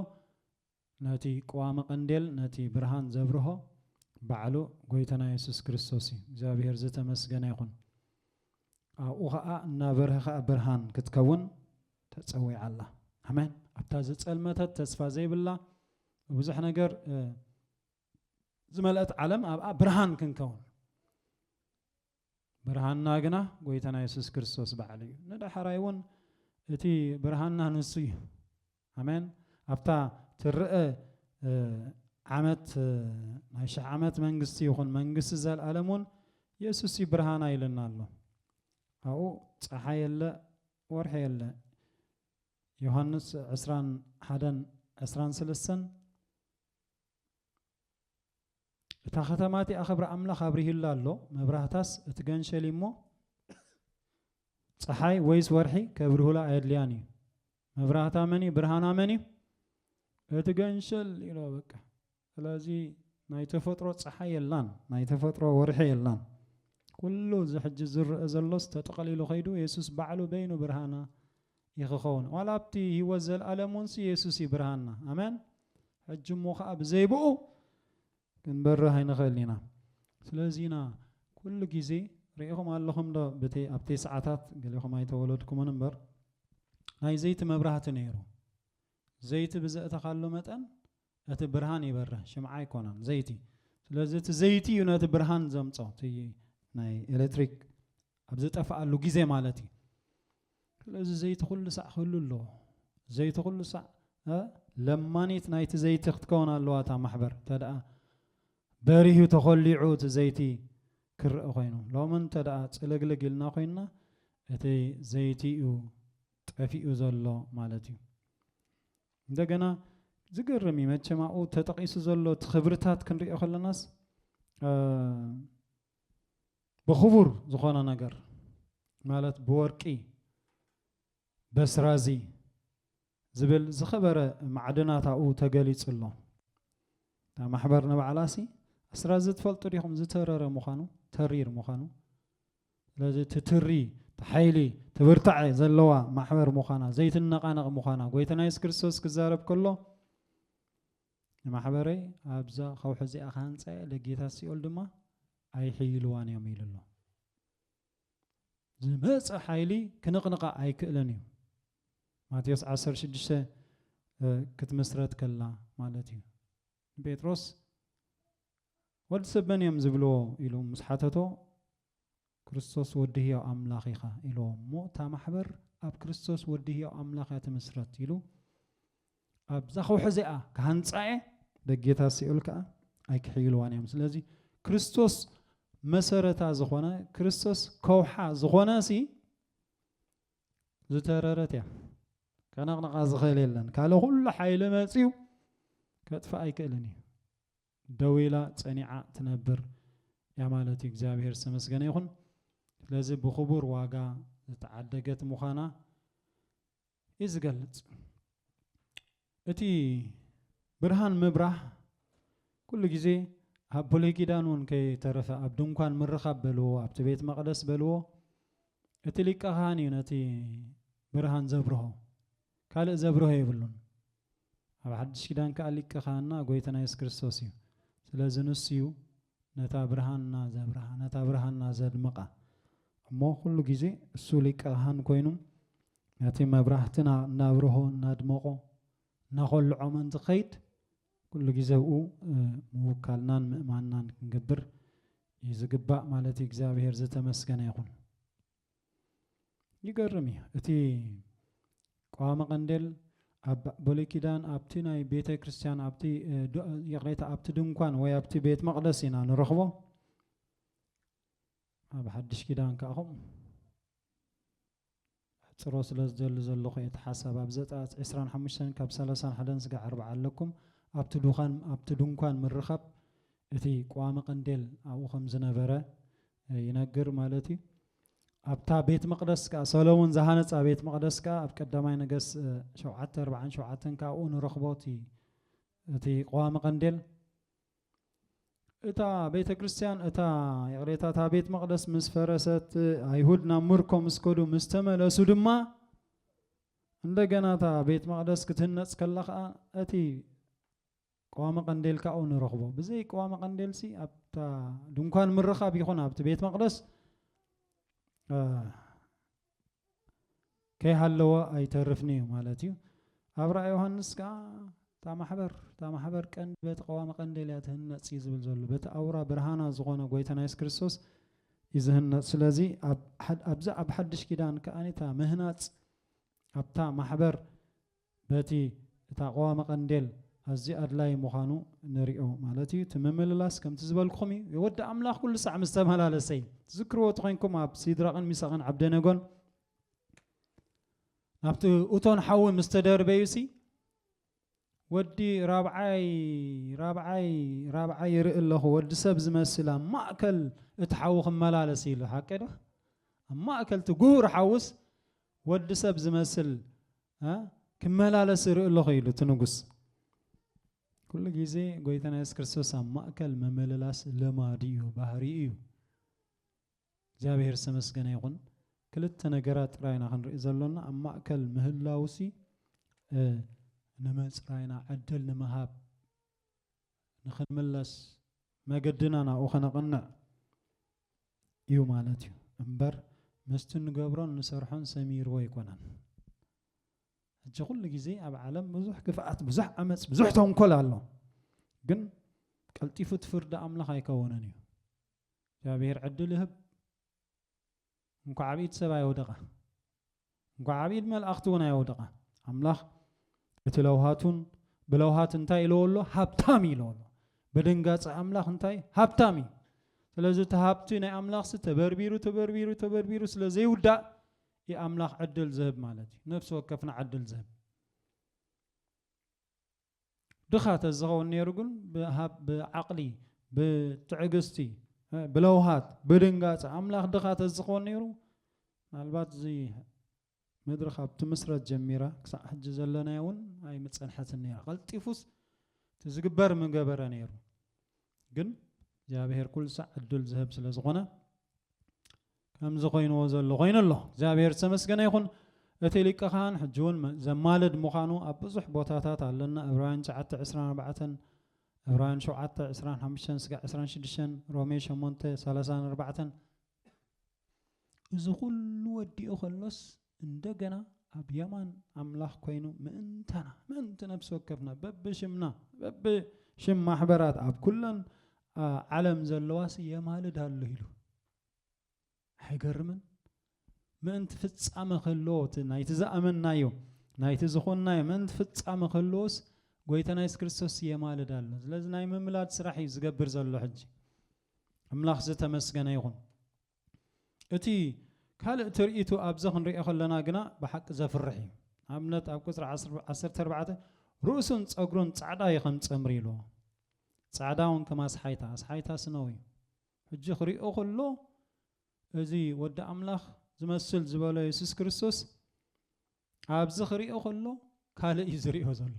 ነቲ ቅዋመ ቀንዴል ነቲ ብርሃን ዘብርሆ ባዕሉ ጎይታና የሱስ ክርስቶስ እዩ እግዚኣብሄር ዝተመስገነ ይኹን ኣብኡ ኸኣ እናበርሀ ኸኣ ብርሃን ክትከውን ተጸዊዓ ኣላ ኣሜን ኣብታ ዝጸልመተት ተስፋ ዘይብላ ብዙሕ ነገር ዝመልአት ዓለም ኣብኣ ብርሃን ክንከውን ብርሃንና ግና ጐይታና የሱስ ክርስቶስ ባዕሉ እዩ። ንዳሕራይ እውን እቲ ብርሃንና ንሱ እዩ። ኣሜን። ኣብታ ትርእ ዓመት ናይ ሽሕ ዓመት መንግስቲ ይኹን መንግስቲ ዘልኣለም እውን የሱስ እዩ ብርሃና ኢሉና ኣሎ። ኣብኡ ፀሓይ የለ ወርሒ የለ። ዮሃንስ ዕስራን ሓደን ዕስራን ስለስተን እታ ኸተማ እቲኣ ኽብሪ ኣምላኽ ኣብሪሁላ ኣሎ፣ መብራህታስ እትገንሸል እሞ ፀሓይ ወይስ ወርሒ ከብርሁላ ኣየድልያን እዩ። መብራህታ መን እዩ? ብርሃና መን እዩ? እቲ ገንሸል ኢሎ በቃ። ስለዚ ናይ ተፈጥሮ ፀሓይ የላን፣ ናይ ተፈጥሮ ወርሒ የላን። ኩሉ እዚ ሕጂ ዝረአ ዘሎስ ተጠቐሊሉ ከይዱ የሱስ ባዕሉ በይኑ ብርሃና እዩ ክኸውን ዋላ ኣብቲ ህይወት ዘልኣለም ውንሲ የሱስ እዩ ብርሃንና ኣመን ሕጂ እሞ ከዓ ብዘይብኡ ክንበርህ ኣይንኽእል ኢና ስለዚ ኢና ኩሉ ግዜ ርኢኹም ኣለኹም ዶ ብቲ ኣብ ቴስዓታት ገሌኹም ኣይተወለድኩምን እምበር ናይ ዘይቲ መብራህቲ ነይሩ ዘይቲ ብዘእተኻሉ መጠን እቲ ብርሃን ይበርህ ሽምዓ ኣይኮነን ዘይቲ ስለዚ እቲ ዘይቲ እዩ ነቲ ብርሃን ዘምጾ እቲ ናይ ኤሌክትሪክ ኣብ ዝጠፍኣሉ ግዜ ማለት እዩ ስለዚ ዘይቲ ኩሉ ሳዕ ክህሉ ኣለዎ ዘይቲ ኩሉ ሳዕ ለማኒት ናይቲ ዘይቲ ክትከውን ኣለዋ እታ ማሕበር ተደኣ በሪሁ ተኾሊዑ እቲ ዘይቲ ክርእ ኮይኑ ሎሚ እንተ ደኣ ጽልግልግ ኢልና ኮይንና እቲ ዘይቲ እዩ ጠፊኡ ዘሎ ማለት እዩ እንደገና ዝገርም እዩ መቸም ኣብኡ ተጠቒሱ ዘሎ እቲ ክብርታት ክንሪኦ ከለናስ ብኽቡር ዝኾነ ነገር ማለት ብወርቂ በስራዚ ዝብል ዝኸበረ ማዕድናት ኣብኡ ተገሊጹ ኣሎ እታ ማሕበር ንባዕላሲ ኣስራዚ ትፈልጡ ዲኹም ዝተረረ ምዃኑ ተሪር ምዃኑ ስለዚ እቲ ትሪ፣ እቲ ሓይሊ፣ እቲ ብርታዐ ዘለዋ ማሕበር ምዃና፣ ዘይትነቓነቕ ምዃና ጎይታና የሱስ ክርስቶስ ክዛረብ ከሎ ንማሕበረይ ኣብዛ ከውሒ እዚኣ ክሃንጻ እየ፣ ደጌታት ሲኦል ድማ ኣይሕይልዋን እዮም ኢሉ ኣሎ። ዝመፀ ሓይሊ ክንቕንቓ ኣይክእለን እዩ። ማቴዎስ 16 ክትምስረት ከላ ማለት እዩ። ንጴጥሮስ ወዲ ሰብ መን እዮም ዝብልዎ ኢሉ ምስ ሓተቶ ክርስቶስ ወዲ ህያው ኣምላኽ ኢኻ ኢልዎ እሞ እታ ማሕበር ኣብ ክርስቶስ ወዲ ህያው ኣምላኽ እያ ትምስረት ኢሉ ኣብዛ ከውሒ እዚኣ ክሃንፃ እየ ደጌታ ሲኦል ከዓ ኣይክሕይልዋን እዮም ስለዚ ክርስቶስ መሰረታ ዝኾነ ክርስቶስ ከውሓ ዝኾነ ሲ ዝተረረት እያ ከነቕንቓ ዝኽእል የለን ካልእ ኩሉ ሓይሊ መፅዩ ከጥፍእ ኣይክእልን እዩ ደው ኢላ ፀኒዓ ትነብር እያ ማለት እዩ እግዚኣብሔር ዝተመስገነ ይኹን ስለዚ ብክቡር ዋጋ ዝተዓደገት ምዃና እዩ ዝገልፅ እቲ ብርሃን ምብራህ ኩሉ ግዜ ኣብ ብሉይ ኪዳን እውን ከይተረፈ ኣብ ድንኳን ምርኻብ በልዎ ኣብቲ ቤት መቕደስ በልዎ እቲ ሊቀ ካህን እዩ ነቲ ብርሃን ዘብርሆ ካልእ ዘብርሆ የብሉን ኣብ ሓድሽ ኪዳን ከዓ ሊቀ ካህንና ጎይትና የሱስ ክርስቶስ እዩ ስለዚ ንሱ እዩ ነታ ብርሃንና ዘብርሃ ነታ ብርሃንና ዘድምቃ እሞ ኩሉ ግዜ እሱ ሊቀ ካህን ኮይኑ ነቲ መብራህትና እናብርሆ እናድመቖ እናኾልዖምን ዝኸይድ ኩሉ ግዜ ኣብኡ ምውካልናን ምእማንናን ክንገብር እዩ ዝግባእ ማለት እዩ እግዚኣብሔር ዝተመስገነ ይኹን ይገርም እዩ እቲ ቀዋሚ ቀንዴል ኣብ ብሉይ ኪዳን ኣብቲ ናይ ቤተ ክርስቲያን ኣብቲ ይቕሬታ ኣብቲ ድንኳን ወይ ኣብቲ ቤት መቕደስ ኢና ንረኽቦ ኣብ ሓድሽ ኪዳን ከዓ ከምኡ ኣሕጽሮ ስለ ዝደሊ ዘለኹ እቲ ሓሳብ ኣብ ዘጸኣት ዕስራን ሓሙሽተን ካብ ሰላሳን ሓደን ስጋዕ ኣርብዓ ኣለኩም ኣብቲ ዱካን ኣብቲ ድንኳን ምርኻብ እቲ ቋሚ ቀንዴል ኣብኡ ከም ዝነበረ ይነግር ማለት እዩ ኣብታ ቤት መቅደስ ከኣ ሰሎሞን ዝሃነጻ ቤት መቅደስ ከኣ ኣብ ቀዳማይ ነገስ ሸውዓተ ኣርብዓን ሸውዓተን ከኣ ኣብኡ ንረኽቦ እቲ እቲ ቀዋሚ ቀንዴል እታ ቤተ ክርስቲያን እታ ይቕሬታ እታ ቤት መቕደስ ምስ ፈረሰት ኣይሁድ ናብ ምርኮ ምስ ከዱ ምስ ተመለሱ ድማ እንደገና እታ ቤት መቕደስ ክትህነፅ ከላ ከዓ እቲ ቀዋሚ ቀንዴል ካብኡ ንረኽቦ ብዘይ ቀዋሚ ቀንዴል ሲ ኣብታ ድንኳን ምርኻብ ይኹን ኣብቲ ቤት መቕደስ ከይሃለወ ኣይተርፍንዩ ማለት እዩ ኣብ ራእይ ዮሃንስ ከዓ እታ ማሕበር እታ ማሕበር ቀንዲ በቲ ቀዋሚ ቀንዴል እያ ትህነፅ እዩ ዝብል ዘሎ በቲ ኣውራ ብርሃና ዝኾነ ጎይታና የሱስ ክርስቶስ እዩ ዝህነፅ ስለዚ ኣብዚ ኣብ ሓድሽ ኪዳን ከዓኒ እታ ምህናፅ ኣብታ ማሕበር በቲ እታ ቀዋሚ ቀንዴል ኣዝዩ ኣድላዪ ምዃኑ ንሪኦ ማለት እዩ። እቲ ምምልላስ ከምቲ ዝበልኩኹም እዩ። ወዲ ኣምላኽ ኩሉ ሳዕ ምስ ተመላለሰ እዩ። ትዝክርዎ ተኾይንኩም ኣብ ሲድራቕን ሚሳቕን ዓብደነጎን ናብቲ እቶን ሓዊ ምስ ተደርበዩሲ ወዲ ራብዓይ ራብዓይ ራብዓይ ይርኢ ኣለኹ ወዲ ሰብ ዝመስል ኣብ ማእከል እቲ ሓዊ ክመላለስ ኢሉ ሓቂ ዶ ኣብ ማእከል እቲ ጉሁር ሓውስ ወዲ ሰብ ዝመስል ክመላለስ ይርኢ ኣለኹ ኢሉ እቲ ንጉስ ኩሉ ግዜ ጎይታና የሱስ ክርስቶስ ኣብ ማእከል መመለላስ ልማዱ እዩ ባህሪ እዩ እግዚኣብሔር ዝተመስገነ ይኹን ክልተ ነገራት ጥራይና ክንርኢ ዘሎና ኣብ ማእከል ምህላውሲ ንመጽራይና ዕድል ንምሃብ ንክንምለስ መገድና ናብኡ ከነቕንዕ እዩ ማለት እዩ እምበር ምስቲ ንገብሮን ንሰርሖን ሰሚርዎ ኣይኮነን ሕጂ ኩሉ ግዜ ኣብ ዓለም ብዙሕ ክፍኣት ብዙሕ ዓመፅ ብዙሕ ተንኮል ኣሎ ግን ቀልጢፉ እቲ ፍርዲ ኣምላኽ ኣይከውንን እዩ እግዚኣብሔር ዕድል ይህብ እንኳዕ ኣብ ኢድ ሰብ ኣየውደቐ እንኳዕ ኣብ ኢድ መልኣኽቲ እውን ኣየውደቐ ኣምላኽ እቲ ለውሃቱን ብለውሃት እንታይ ኢለዎ ኣሎ ሃብታም እዩ ኢለዎ ኣሎ በደንጋፂ ኣምላኽ እንታይ ሃብታም እዩ ስለዚ እቲ ሃብቲ ናይ ኣምላኽሲ ተበርቢሩ ተበርቢሩ ተበርቢሩ ስለ ዘይውዳእ እዩ ኣምላኽ ዕድል ዝህብ ማለት እዩ ነፍሲ ወከፍና ዕድል ዝህብ ድኻ ተዝኸውን ነይሩ ግን ብዓቕሊ ብትዕግስቲ ብለውሃት ብድንጋጸ ኣምላኽ ድኻ ተዝኾን ነይሩ ምናልባት እዚ ምድሪ ካብ ትምስረት ጀሚራ ክሳዕ ሕጂ ዘለናዮ እውን ኣይምጸንሐትን ነይራ ቀልጢፉስ እቲ ዝግበር ምገበረ ነይሩ ግን እግዚኣብሔር ኩሉ ሳዕ ዕድል ዝህብ ስለ ዝኾነ ከምዚ ኮይንዎ ዘሎ ኮይኑ ኣሎ። እግዚኣብሔር ዝተመስገነ ይኹን። እቲ ሊቀ ካህን ሕጂ እውን ዘማልድ ምዃኑ ኣብ ብዙሕ ቦታታት ኣለና ዕብራውያን ትሽዓተ ዕስራን ኣርባዕተን ዕብራውያን ሸውዓተ ዕስራን ሓሙሽተን ስጋዕ ዕስራን ሽዱሽተን ሮሜ ሸሞንተ ሰላሳን ኣርባዕተን እዚ ኩሉ ወዲኡ ከሎስ እንደገና ኣብ የማን ኣምላኽ ኮይኑ ምእንታና ምእንቲ ነፍሲ ወከፍና በብሽምና በብሽም ማሕበራት ኣብ ኩለን ዓለም ዘለዋስ የማልድ ኣሎ ኢሉ ኣይገርምን? ምእንቲ ፍጻመ ከሎ እቲ ናይቲ ዝኣመንናዮ ናይቲ ዝኾንናዮ ምእንቲ ፍጻመ ከሎስ ጎይታና የሱስ ክርስቶስ የማልድ ኣሎ። ስለዚ ናይ ምምላድ ስራሕ እዩ ዝገብር ዘሎ ሕጂ። ኣምላኽ ዝተመስገነ ይኹን። እቲ ካልእ ትርኢቱ ኣብዚ ክንሪኦ ከለና ግና ብሓቂ ዘፍርሕ እዩ። ኣብነት ኣብ ቁጽሪ ዓሰርተ ኣርባዕተ ርእሱን ጸጉሩን ጻዕዳ እዩ ከም ጸምሪ ኢልዎ። ጻዕዳ እውን ከም ኣስሓይታ፣ ኣስሓይታ ስነው እዩ። ሕጂ ክሪኦ ከሎ እዚ ወዲ ኣምላኽ ዝመስል ዝበሎ የሱስ ክርስቶስ ኣብዚ ክሪኦ ከሎ ካልእ እዩ ዝሪኦ ዘሎ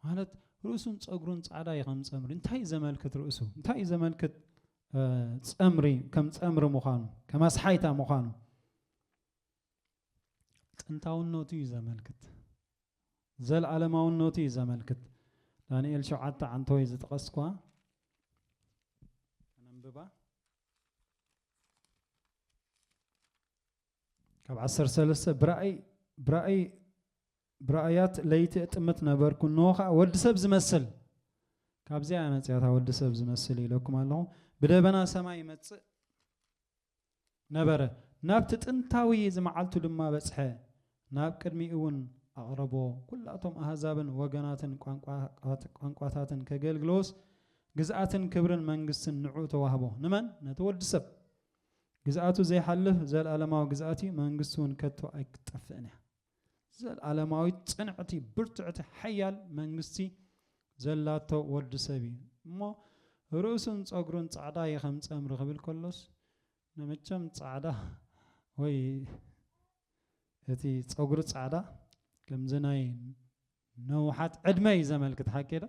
ማለት ርእሱን ጸጉሩን ጻዕዳ እዩ ከም ጸምሪ እንታይ እዩ ዘመልክት ርእሱ እንታይ እዩ ዘመልክት ጸምሪ ከም ጸምሪ ምዃኑ ከም ኣስሓይታ ምዃኑ ጥንታውነቱ እዩ ዘመልክት፣ ዘልኣለማውነቱ እዩ ዘመልክት። ዳንኤል ሸውዓተ ዓንተወይ ዝጠቐስኳ ከነንብባ ካብ ዓሰርተ ሰለስተ ብራእይ ብራእይ ብራእያት ለይቲ እጥምት ነበርኩ እንሆ ከዓ ወዲ ሰብ ዝመስል ካብዚኣ መፅያታ ወዲ ሰብ ዝመስል ኢለኩም ኣለኹ ብደበና ሰማይ ይመፅእ ነበረ፣ ናብቲ ጥንታዊ ዝመዓልቱ ድማ በጽሐ፣ ናብ ቅድሚኡውን ኣቕረቦ፣ ኵላቶም ኣህዛብን ወገናትን ቋንቋታትን ኬገልግልዎስ፣ ግዝኣትን ክብርን መንግስትን ንዕኡ ተዋህቦ። ንመን? ነቲ ወዲ ሰብ። ግዝኣቱ ዘይሓልፍ ዘለኣለማዊ ግዝኣት እዩ፣ መንግስቱውን ከቶ ኣይክትጠፍእን እያ። ዘልኣለማዊት ጽንዕቲ ብርትዕቲ ሓያል መንግስቲ ዘላቶ ወዲ ሰብ እዩ እሞ ርእሱን ጸጉሩን ጻዕዳ እየ ከም ጸምሪ ክብል ከሎስ ንመቸም ጻዕዳ ወይ እቲ ጸጉሪ ጻዕዳ ከምዚ ናይ ነውሓት ዕድመ እዩ ዘመልክት ሓቂ ዶ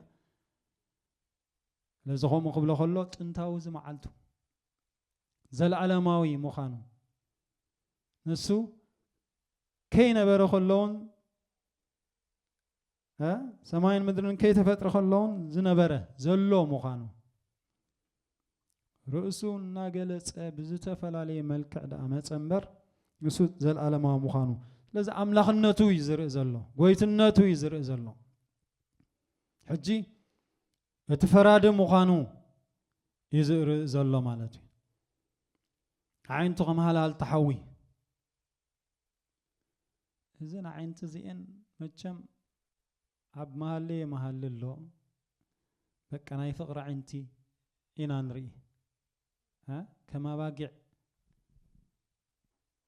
ስለዚ ከምኡ ክብሎ ከሎ ጥንታዊ እዚ መዓልቱ ዘለኣለማዊ ምዃኑ፣ ንሱ ከይነበረ ከሎውን ሰማይን ምድርን ከይተፈጥረ ከሎውን ዝነበረ ዘሎ ምዃኑ ርእሱ እናገለጸ ብዝተፈላለየ መልክዕ ደኣ መጸ እምበር ንሱ ዘለኣለማዊ ምዃኑ ስለዚ ኣምላኽነቱ እዩ ዝርኢ ዘሎ ጎይትነቱ እዩ ዝርኢ ዘሎ ሕጂ እቲ ፈራዲ ምዃኑ እዩ ዝርኢ ዘሎ ማለት እዩ። ኣዒንቱ ከም ሃልሃልታ ሓዊ እዘን ኣዒንቲ እዚኤን መቸም ኣብ መሃለየ መሃሊ ኣሎ በቃ ናይ ፍቕሪ ኣዒንቲ ኢና ንርኢ ከም ኣባጊዕ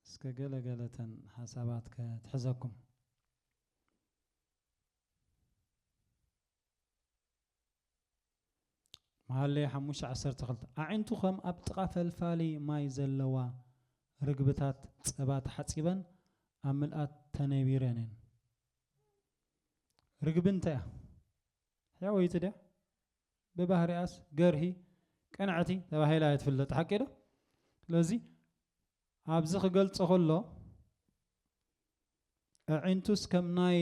እስከ ገለገለተን ሓሳባት ከትሕዘኩም መሃለይ ሓሙሽተ ዓሰርተ ክልተ ኣዒንቱ ኸም ኣብ ጥቓ ፈልፋሊ ማይ ዘለዋ ርግብታት ጸባ ተሓጺበን ኣብ ምልኣት ተነቢረን እየን። ርግቢ እንታይ እያ? ሕያወይቲ ድያ? ብባህሪኣስ ገርሂ ቅንዕቲ ተባሂላ እያ ትፍለጥ። ሓቂ ዶ? ስለዚ ኣብዚ ክገልጾ ከሎ ኣዒንቱስ ከም ናይ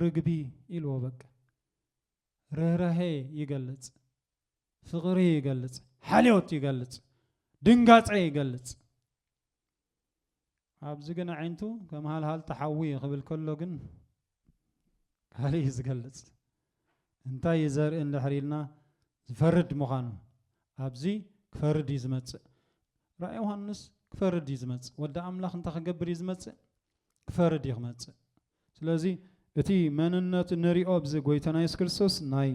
ርግቢ ኢልዎ በቃ ርህራሄ ይገልጽ ፍቕሪ ይገልጽ ሓልዮት ይገልጽ ድንጋጸ ይገልጽ ኣብዚ ግን ኣዒንቱ ከም ሃልሃልታ ሓዊ ክብል ከሎ ግን ቃሉ እዩ ዝገልጽ። እንታይ እዩ ዘርኢ እንድሕር ኢልና ዝፈርድ ምዃኑ ኣብዚ ክፈርድ እዩ ዝመጽእ። ራእይ ዮሃንስ ክፈርድ እዩ ዝመጽእ። ወዲ ኣምላኽ እንታይ ክገብር እዩ ዝመጽእ? ክፈርድ እዩ ክመጽእ። ስለዚ እቲ መንነቱ ንሪኦ ኣብዚ ጎይታና የሱስ ክርስቶስ ናይ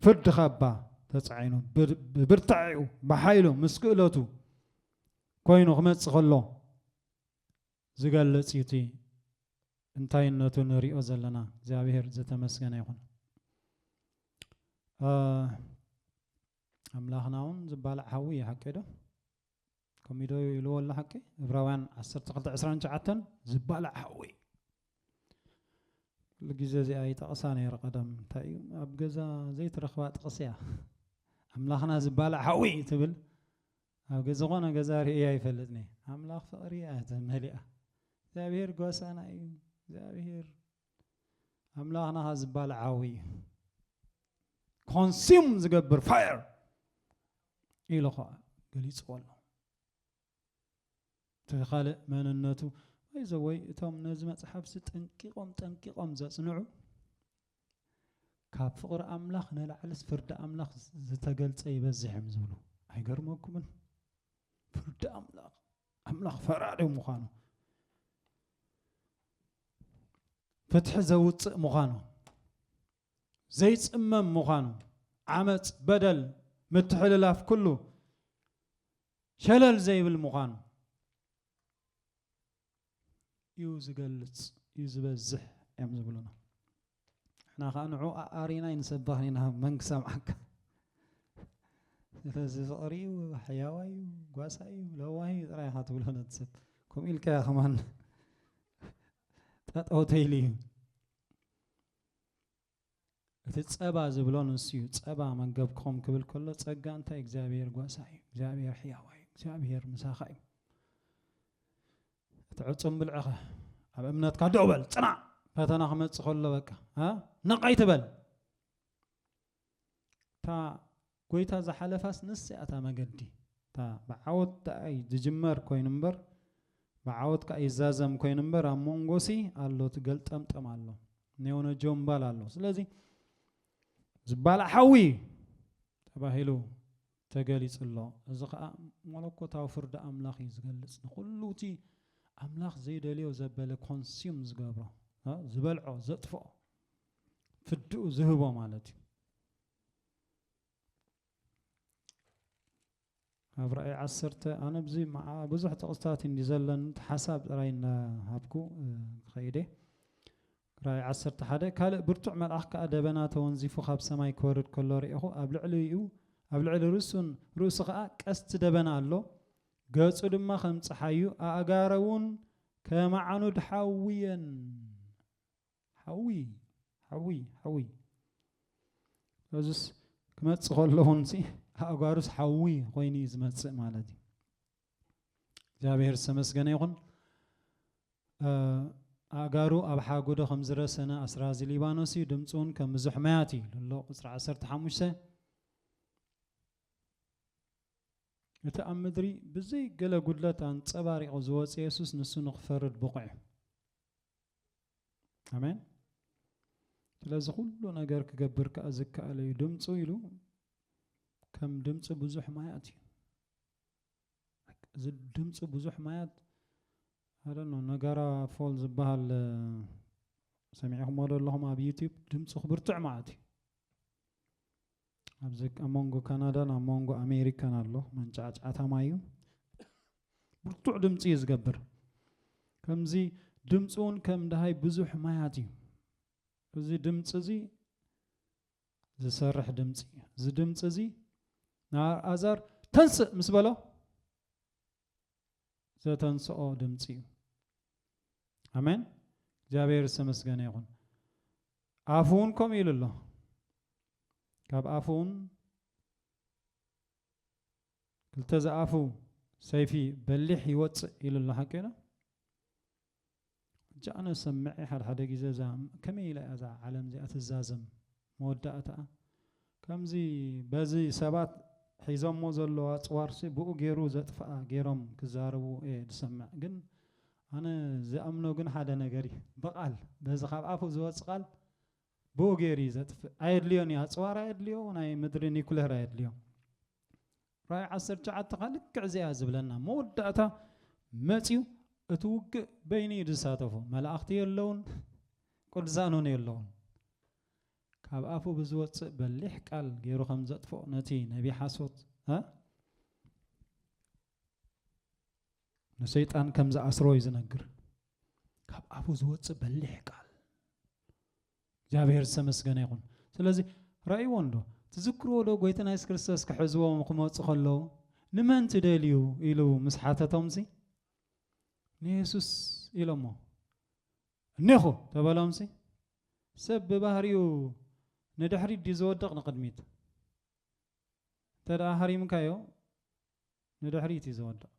ፍርዲ ካባ ተጻዒኑ ብብርታዒኡ ብሓይሉ ምስ ክእለቱ ኮይኑ ክመጽእ ከሎ ዝገልጽ እዩ እቲ እንታይነቱ ንሪኦ ዘለና እግዚኣብሔር ዝተመስገነ ይኹን ኣምላኽና እውን ዝባላዕ ሓዊ እዩ ሓቂ ዶ ከምኡ ዶ ኢልዎ ኣሎ ሓቂ እብራውያን 1229 ዝባላዕ ሓዊ ኩሉ ግዜ እዚኣ ይጠቕሳ ነይረ ቀደም እንታይ እዩ ኣብ ገዛ ዘይትረኽባ ጥቕሲ እያ ኣምላኽና ዝባላዕ ሓዊ ትብል ኣብ ዝኾነ ገዛ ርእየ ኣይፈልጥንየ ኣምላኽ ፍቕሪ እያ ተመሊኣ እግዚኣብሄር ጓሳና እዩ እግዚኣብሄር ኣምላኽና ኸ ዝባል ዓው እዩ ኮንሱም ዝገብር ፋየር ኢሉ ኸዓ ገሊፅዎ ኣሎ እቲ ካልእ መንነቱ ወይ ዘወይ እቶም ነዚ መፅሓፍሲ ጠንቂቖም ጠንቂቖም ዘፅንዑ ካብ ፍቕሪ ኣምላኽ ንላዕልስ ፍርዲ ኣምላኽ ዝተገልጸ ይበዝሕ እዮም ዝብሉ ኣይገርመኩምን? ፍርዲ ኣምላኽ ኣምላኽ ፈራዶ ምዃኑ ፍትሒ ዘውፅእ ምዃኑ ዘይፅመም ምዃኑ ዓመፅ በደል ምትሕልላፍ ኩሉ ሸለል ዘይብል ምዃኑ ዩ ዝገልጽ ዩ ዝበዝሕ እዮም ዝብሉና ንሕና ከዓ ንዑ ኣሪና ይንሰባህ ኢና መን ክሰምዓካ ስለዚ ፍቕሪ እዩ ሕያዋ እዩ ጓሳ እዩ ለዋህ እዩ ጥራይ ኢኻ ትብሎ ነቲ ሰብ ከምኡ ኢልካያ ከማን ጠጠው ተይሉ እዩ እቲ ጸባ ዝብሎ ንሱ'ዩ፣ ጸባ መገብኩም ክብል ከሎ ጸጋ እንታይ እግዚኣብሄር ጓሳ'ዩ፣ እግዚኣብሄር ሕያዋይ'ዩ፣ እግዚኣብሄር ምሳኻ'ዩ። እቲ ዕጹም ብልዕኸ ኣብ እምነትካ ደው በል፣ ጽናዕ፣ ፈተና ክመጽእ ከሎ በቃ ነቕ ኣይትበል። እታ ጎይታ ዝሓለፋስ ንሳ እያ እታ መገዲ እታ ብዓወት ደኣ ዝጅመር ኮይኑ እምበር ብዓወት ከኣ ይዛዘም ኮይኑ እምበር ኣብ መንጎሲ ኣሎ እቲ ገልጠምጠም ኣሎ ኔውነጆ እምባል ኣሎ ስለዚ ዝባላዕ ሓዊ ተባሂሉ ተገሊጹ ኣሎ እዚ ከዓ መለኮታዊ ፍርዲ ኣምላኽ እዩ ዝገልጽ ንኩሉ እቲ ኣምላኽ ዘይደልዮ ዘበለ ኮንሱም ዝገብሮ ዝበልዖ ዘጥፍኦ ፍድኡ ዝህቦ ማለት እዩ ኣብ ራእይ ዓሰርተ ኣነ ብዙ መዓ ብዙሕ ጥቕስታት እንዲ ዘለን ሓሳብ ጥራይ እናሃብኩ ክኸይደ ራእይ ዓሰርተ ሓደ ካልእ ብርቱዕ መልኣኽ ከዓ ደበና ተወንዚፉ ካብ ሰማይ ክወርድ ከሎ ርኢኹ ኣብ ልዕሊኡ ኣብ ልዕሊ ርእሱን ርእሱ ከዓ ቀስቲ ደበና ኣሎ ገጹ ድማ ከም ፀሓዩ ኣእጋረ እውን ከማዕኑድ ሓዊ እየን ሓዊ ሓዊ ሓዊ እዚስ ክመፅእ ከሎ እውን ሲ ኣእጓሩስ ሓዊ ኮይኑ እዩ ዝመፅእ ማለት እዩ እግዚኣብሔር ዝተመስገነ ይኹን ኣእጋሩ ኣብ ሓጎዶ ከም ዝረሰነ ኣስራዚ ሊባኖስ እዩ ድምፂ እውን ከም ብዙሕ መያት እዩ ልሎ ቁፅሪ ዓሰርተ ሓሙሽተ እቲ ኣብ ምድሪ ብዘይ ገለ ጉድለት ኣንፀባሪቑ ዝወፅ የሱስ ንሱ ንክፈርድ ብቑዕ እዩ ኣሜን ስለዚ ኩሉ ነገር ክገብር ከዓ ዝከኣለ እዩ ድምፁ ኢሉ ከም ድምፂ ብዙሕ ማያት እዩ እዚ ድምፂ ብዙሕ ማያት ሓደ ነው ነጋራ ፎል ዝበሃል ሰሚዕኹምዎ ዶ ኣለኹም ኣብ ዩቲብ ድምፂ ክብርትዕ ማለት እዩ ኣብዚ ኣብ መንጎ ካናዳን ኣብ መንጎ ኣሜሪካን ኣሎ መንጫዕጫዕታ ማዩ ብርቱዕ ድምፂ እዩ ዝገብር ከምዚ ድምፂ እውን ከም ድሃይ ብዙሕ ማያት እዩ እዚ ድምፂ እዚ ዝሰርሕ ድምፂ እዩ እዚ ድምፂ እዚ ንኣልኣዛር ተንስእ ምስ በሎ ዘተንስኦ ድምፂ እዩ ኣሜን እግዚኣብሔር ዝተመስገነ ይኹን ኣፉ እውን ከምኡ ኢሉ ኣሎ ካብ ኣፉ እውን ክልተ ዝኣፉ ሰይፊ በሊሕ ይወፅእ ኢሉ ኣሎ ሓቂ ዶ ሕጂ ኣነ እሰምዕ እየ ሓደ ሓደ ግዜ እዛ ከመይ ኢላ እያ እዛ ዓለም እዚኣ ትዛዘም መወዳእታኣ ከምዚ በዚ ሰባት ሒዞሞ ዘለዉ ኣጽዋርሲ ብኡ ገይሩ ዘጥፍኣ ገይሮም ክዛረቡ እየ ዝሰምዕ ግን ኣነ ዝኣምኖ ግን ሓደ ነገር እዩ ብቓል በዚ ካብ ኣፉ ዝወጽእ ቓል ብኡ ገይሩ እዩ ዘጥፍእ ኣየድልዮን እዩ ኣፅዋር ኣየድልዮ ናይ ምድሪ ኒኩሌር ኣየድልዮ ራይ ዓሰርተ ትሽዓተ ከዓ ልክዕ እዚኣ ዝብለና መወዳእታ መፅዩ እቲ ውግእ በይኑ እዩ ዝሳተፎ መላእኽቲ የለውን ቅዱሳን እውን የለውን ካብ ኣፉ ብዝወፅእ በሊሕ ቃል ገይሩ ከም ዘጥፍኦ ነቲ ነቢ ሓሶት ንሰይጣን ከም ዝኣስሮ እዩ ዝነግር ካብ ኣፉ ዝወፅእ በሊሕ ቃል እግዚኣብሔር ዝተመስገነ ይኹን ስለዚ ራእይዎ እንዶ ትዝክርዎ ዶ ጎይትና የሱስ ክርስቶስ ክሕዝዎም ክመፁ ከለዉ ንመን ትደልዩ ኢሉ ምስ ሓተቶምሲ ንየሱስ ኢሎሞ እኔኹ ተበሎምሲ ሰብ ብባህሪኡ ንድሕሪት ድዩ ዝወድቕ ንቕድሚት እንተ ደኣ ሃሪምካዮ ንድሕሪት እዩ ዝወድቕ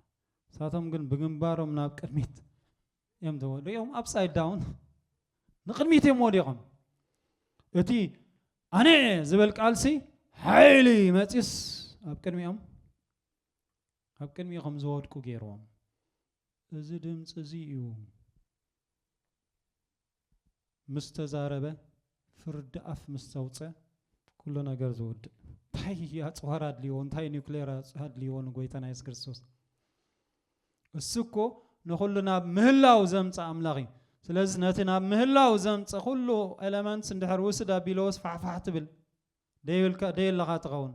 ንሳቶም ግን ብግንባሮም ናብ ቅድሚት እዮም ዝወድቑ እዮም ኣብሳይድ ዳውን ንቅድሚት እዮም ወዲቖም እቲ ኣነ ዝበል ቃልሲ ሓይሊ መፂስ ኣብ ቅድሚኦም ኣብ ቅድሚኡ ከም ዝወድቁ ገይርዎም እዚ ድምጺ እዚ እዩ ምስ ተዛረበ ፍርዲ ኣፍ ምስ ዘውጸ ኩሉ ነገር ዝውድእ። እንታይ ኣጽዋር ኣድልይዎ እንታይ ኒኩሌር ኣድልይዎ ንጎይታና የሱስ ክርስቶስ እሱ እኮ ንኹሉ ናብ ምህላው ዘምጽእ ኣምላኽ እዩ ስለዚ ነቲ ናብ ምህላው ዘምጽእ ኩሉ ኤለመንትስ እንድሕር ውስድ ኣቢለዎስ ፋሕፋሕ ትብል ደይብልካ ደየለኻ ትኸውን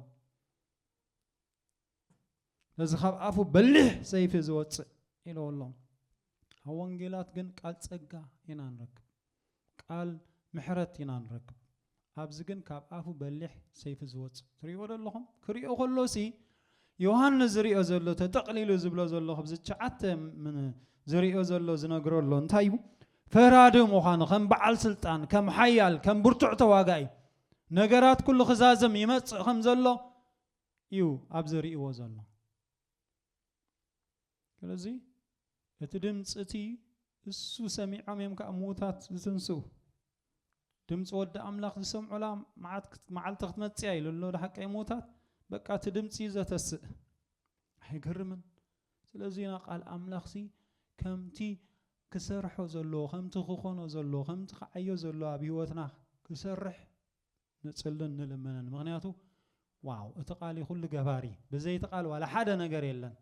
ነዚ ካብ ኣፉ በሊሕ ሰይፊ ዝወፅእ ኢለዎ ኣሎ ኣብ ወንጌላት ግን ቃል ፀጋ ኢና ንረክብ ቃል ምሕረት ኢና ንረክብ ኣብዚ ግን ካብ ኣፉ በሊሕ ሰይፊ ዝወፅእ ትሪእዎ ዶ ኣለኹም ክሪኦ ከሎ ሲ ዮሃንስ ዝሪኦ ዘሎ ተጠቕሊሉ ዝብሎ ዘሎ ካብዚ ትሽዓተ ዝሪኦ ዘሎ ዝነግሮ ኣሎ እንታይ እዩ ፈራዲ ምዃኑ ከም በዓል ስልጣን ከም ሓያል ከም ብርቱዕ ተዋጋኢ ነገራት ኩሉ ክዛዘም ይመፅእ ከም ዘሎ እዩ ኣብዚ ርእይዎ ዘሎ። ስለዚ እቲ ድምጺ እቲ እሱ ሰሚዖም እዮም ከኣ ምዉታት ዝትንስኡ። ድምጺ ወዲ ኣምላኽ ዝሰምዑላ መዓት መዓልቲ ክትመጽእ እያ ኢሉ ኣሎ ሓቀይ ምዉታት። በቃ እቲ ድምጺ እዩ ዘተስእ። ኣይገርምን? ስለዚ ኢና ቃል ኣምላኽሲ ከምቲ ክሰርሖ ዘለዎ ከምቲ ክኾኖ ዘለዎ ከምቲ ክዓዮ ዘለዎ ኣብ ህይወትና ክሰርሕ ንጽልን ንልምንን ምክንያቱ ዋው እቲ ቃል እዩ ኩሉ ገባሪ ብዘይ እቲ ቃል ዋላ ሓደ ነገር የለን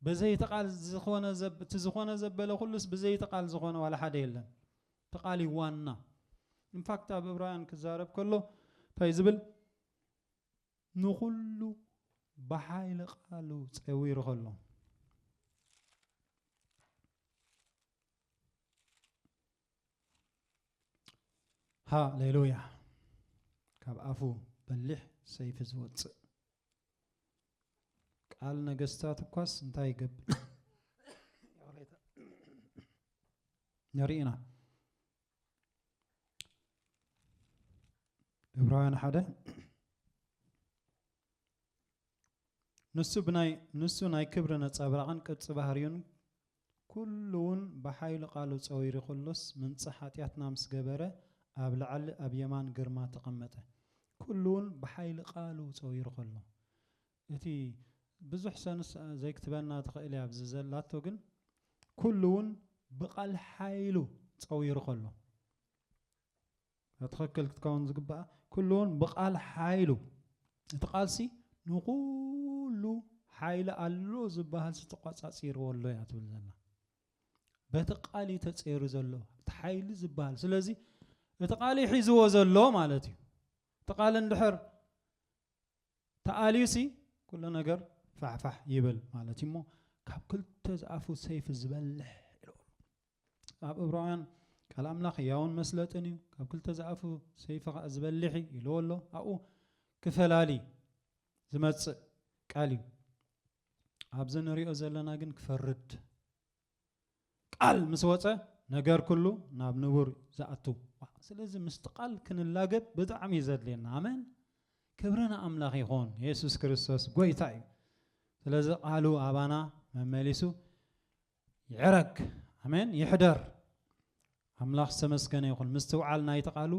ብዘይ እቲ ቃል ዝኾነ እቲ ዝኾነ ዘበለ ኩሉስ ብዘይ እቲ ቃል ዝኾነ ዋላ ሓደ የለን እቲ ቃል እዩ ዋና ኢንፋክት ኣብ እብራውያን ክዛረብ ከሎ እንታይ ዝብል ንኹሉ ብሓይሊ ቃሉ ፀዊሩ ከሎ ሃሌሉያ ካብ ኣፉ በሊሕ ሰይፊ ዝወፅእ ቃል ነገስታት እኳስ እንታይ ይገብር ንርኢና ዕብራውያን ሓደ ንሱ ብናይ ንሱ ናይ ክብሪ ነፃብራቕን ቅርፂ ባህርዩን ኩሉ ውን ብሓይሉ ቃሉ ጸዊሪ ኩሉስ ምንጻህ ሓጢኣትና ምስ ገበረ ኣብ ላዕሊ ኣብ የማን ግርማ ተቐመጠ። ኩሉ ውን ብሓይሊ ቃሉ ጸዊሩ ከሎ እቲ ብዙሕ ሰንስ ዘይክትበና ትኽእል እያ ኣብዚ ዘላቶ ግን ኩሉ ውን ብቓል ሓይሉ ጸዊሩ ከሎ። ትኸክል ክትከውን ዝግባኣ ኩሉውን ብቓል ሓይሉ እቲ ቃልሲ ንኹሉ ሓይሊ ኣሎ ዝበሃል ዝተቋጻጺርዎ ኣሎ እያ ትብል ዘላ በቲ ቃል እዩ ተጸይሩ ዘሎ እቲ ሓይሊ ዝበሃል ስለዚ እቲ ቃል እዩ ሒዝዎ ዘሎ ማለት እዩ እቲ ቃል እንድሕር ተኣልዩሲ ኩሉ ነገር ፋሕፋሕ ይብል ማለት እዩ እሞ ካብ ክልተ ዝኣፉ ሰይፊ ዝበልሕ ኣብ እብራውያን ቃል ኣምላኽ ሕያውን መስለጥን እዩ፣ ካብ ክልተ ዝኣፉ ሰይፊ ኸኣ ዝበልሕ እዩ ኢልዎ ኣሎ። ኣብኡ ክፈላሊ ዝመጽእ ቃል እዩ። ኣብዚ ንሪኦ ዘለና ግን ክፈርድ ቃል ምስ ወጸ ነገር ኩሉ ናብ ንቡር ዝኣቱ። ስለዚ ምስቲ ቃል ክንላገብ ብጣዕሚ እዩ ዘድልየና። ኣሜን። ክብሪ ንኣምላኽ ይኹን። የሱስ ክርስቶስ ጎይታ እዩ። ስለዚ ቃሉ ኣባና መመሊሱ ይዕረግ ኣሜን ይሕደር ኣምላኽ ዝተመስገነ ይኹን ምስትውዓል ናይቲ ቃሉ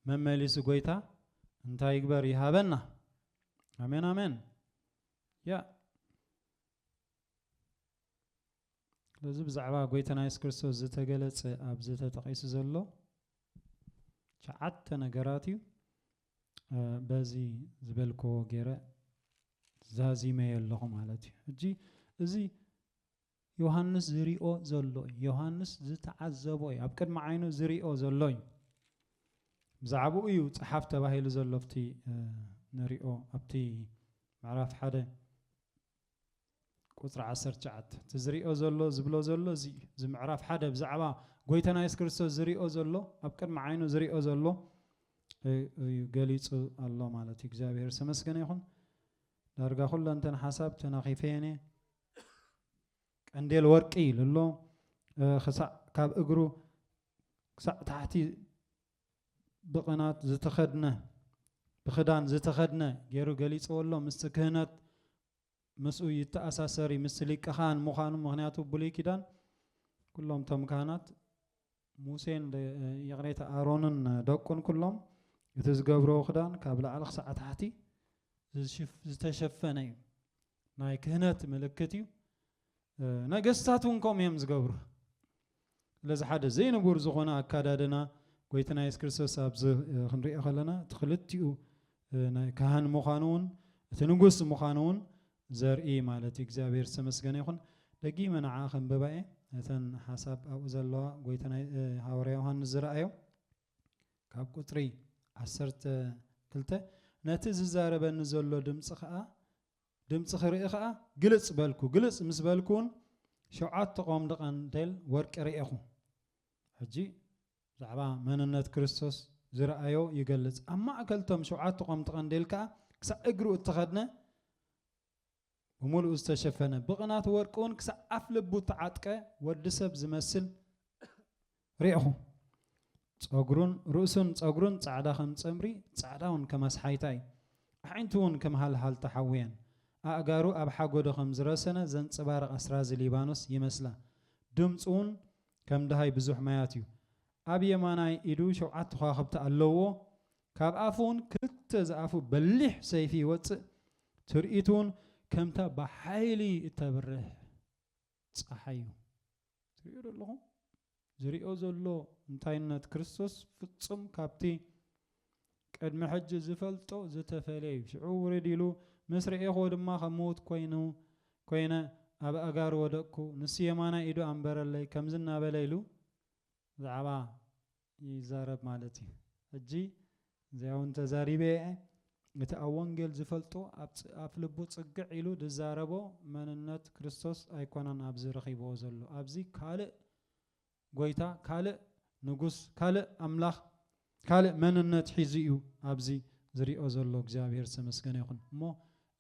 መመሊሱ ጎይታ እንታይ ይግበር ይሃበና ኣሜን ኣሜን ያ ስለዚ ብዛዕባ ጎይታና የሱስ ክርስቶስ ዝተገለጸ ኣብዚ ተጠቒሱ ዘሎ ሸዓተ ነገራት እዩ በዚ ዝበልክዎ ገይረ ዛዚመየ ኣለኹ ማለት እዩ ሕጂ እዚ ዮሃንስ ዝሪኦ ዘሎ እዩ። ዮሃንስ ዝተዓዘቦ እዩ። ኣብ ቅድሚ ዓይኑ ዝሪኦ ዘሎ እዩ። ብዛዕባኡ እዩ ጸሓፍ ተባሂሉ ዘሎ ኣብቲ ንሪኦ ኣብቲ ምዕራፍ ሓደ ቁፅሪ 19 እቲ ዝሪኦ ዘሎ ዝብሎ ዘሎ እዚ እዩ እዚ ምዕራፍ ሓደ ብዛዕባ ጎይታና የሱስ ክርስቶስ ዝሪኦ ዘሎ ኣብ ቅድሚ ዓይኑ ዝሪኦ ዘሎ እዩ ገሊፁ ኣሎ ማለት እዩ እግዚኣብሔር ዝተመስገነ ይኹን ዳርጋ ኩለንተን ሓሳብ ተናኺፈየን እየ ቀንዴል ወርቂ ኢሉ ኣሎ ክሳዕ ካብ እግሩ ክሳዕ ታሕቲ ብቕናት ዝተኸድነ ብክዳን ዝተኸድነ ገይሩ ገሊጽዎ ኣሎ ምስቲ ክህነት ምስኡ ይተኣሳሰር እዩ ምስ ሊቀ ካህን ምዃኑ ምክንያቱ ብሉይ ኪዳን ኩሎም እቶም ካህናት ሙሴን ይቕሬታ ኣሮንን ደቁን ኩሎም እቲ ዝገብረዎ ክዳን ካብ ላዕሊ ክሳዕ ታሕቲ ዝተሸፈነ እዩ ናይ ክህነት ምልክት እዩ ነገስታት እውን ከምኡ እዮም ዝገብሩ ስለዚ ሓደ ዘይንቡር ዝኾነ ኣካዳድና ጎይትና የሱስ ክርስቶስ ኣብዚ ክንሪኦ ከለና እቲ ክልቲኡ ናይ ካህን ምዃኑ እውን እቲ ንጉስ ምዃኑ እውን ዘርኢ ማለት እዩ እግዚኣብሔር ዝተመስገነ ይኹን ደጊመ ንዓ ከንብባ እየ እተን ሓሳብ ኣብኡ ዘለዋ ጎይታ ሃዋርያ ዮሃንስ ዝረኣዮ ካብ ቁጽሪ ዓሰርተ ክልተ፣ ነቲ ዝዛረበኒ ዘሎ ድምጺ ከኣ ድምጺ ክርኢ ከኣ ግልጽ በልኩ፣ ግልጽ ምስ በልኩውን ሸውዓተ ቆምዲ ቀንዴል ወርቂ ርኤኹ። ሕጂ ብዛዕባ መንነት ክርስቶስ ዝረኣዮ ይገልጽ፣ ኣብ ማእከል እቶም ሸውዓተ ቆምዲ ቀንዴል ከኣ ክሳዕ እግሩ እተኸድነ ብምሉኡ ዝተሸፈነ፣ ብቕናት ወርቂውን ክሳዕ ኣፍ ልቡ እተዓጥቀ ወዲ ሰብ ዝመስል ርኤኹ። ጸጕሩን ርእሱን ጸጕሩን ጻዕዳ ከም ጸምሪ፣ ጻዕዳውን ከም ኣስሓይታ እዩ። ኣዒንቱውን ከም ሃልሃልታ ሓዊ እየን። ኣእጋሩ ኣብ ሓጐዶ ከም ዝረሰነ ዘንጸባርቕ ኣስራዚ ሊባኖስ ይመስላ። ድምጹውን ከም ደሃይ ብዙሕ ማያት እዩ። ኣብ የማናይ ኢዱ ሸውዓተ ኸዋኽብቲ ኣለዉዎ፣ ካብ ኣፉውን ክልተ ዝኣፉ በሊሕ ሰይፊ ይወጽእ፣ ትርኢቱውን ከምታ ብሓይሊ እተብርህ ጸሓይ እዩ። ትርእዮዶ ኣለኹም? ዝርእዮ ዘሎ እንታይነት ክርስቶስ ፍጹም ካብቲ ቅድሚ ሕጂ ዝፈልጦ ዝተፈልየ እዩ። ሽዑ ውርድ ኢሉ፣ ምስ ረኤኽዎ ድማ ከም ምዉት ኮይኑ ኮይነ ኣብ ኣእጋሩ ወደቅኩ፣ ንሱ የማናይ ኢዱ ኣንበረለይ፣ ከምዚ እናበለ ኢሉ ብዛዕባ ይዛረብ ማለት እዩ ሕጂ ዘያውን ተዛሪበ እየ እቲ ኣብ ወንጌል ዝፈልጦ ኣብ ኣፍ ልቡ ጽግዕ ኢሉ ድዛረቦ መንነት ክርስቶስ ኣይኮነን ኣብዚ ረኺብዎ ዘሎ ኣብዚ ካልእ ጎይታ ካልእ ንጉስ ካልእ ኣምላኽ ካልእ መንነት ሒዙ እዩ ኣብዚ ዝሪኦ ዘሎ እግዚኣብሔር ዝተመስገነ ይኹን እሞ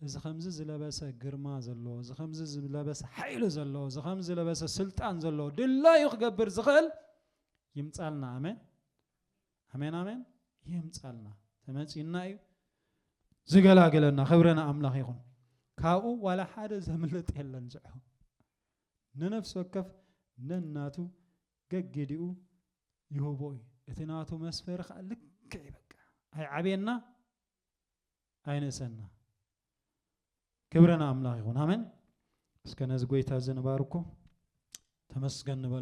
እዚ ከምዚ ዝለበሰ ግርማ ዘለዎ እዚ ከምዚ ዝለበሰ ሓይሊ ዘለዎ እዚ ከምዚ ዝለበሰ ስልጣን ዘለዎ ድላዩ ክገብር ዝኽእል ይምጻልና ኣሜን ኣሜን ኣሜን ይምጻልና ተመጺና እዩ ዝገላግለና ክብረ ንኣምላኽ ይኹን ካብኡ ዋላ ሓደ ዘምልጥ የለን ዝዕሆ ንነፍሲ ወከፍ ነናቱ ገጊዲኡ ይህቦ እዩ እቲ ናቱ መስፈሪ ከዓ ልክዕ እዩ በቃ ኣይዓብየና ኣይንእሰና ክብረ ንኣምላኽ ይኹን ኣሜን እስከ ነዚ ጎይታ እዚ ንባርኮ ተመስገን ንበል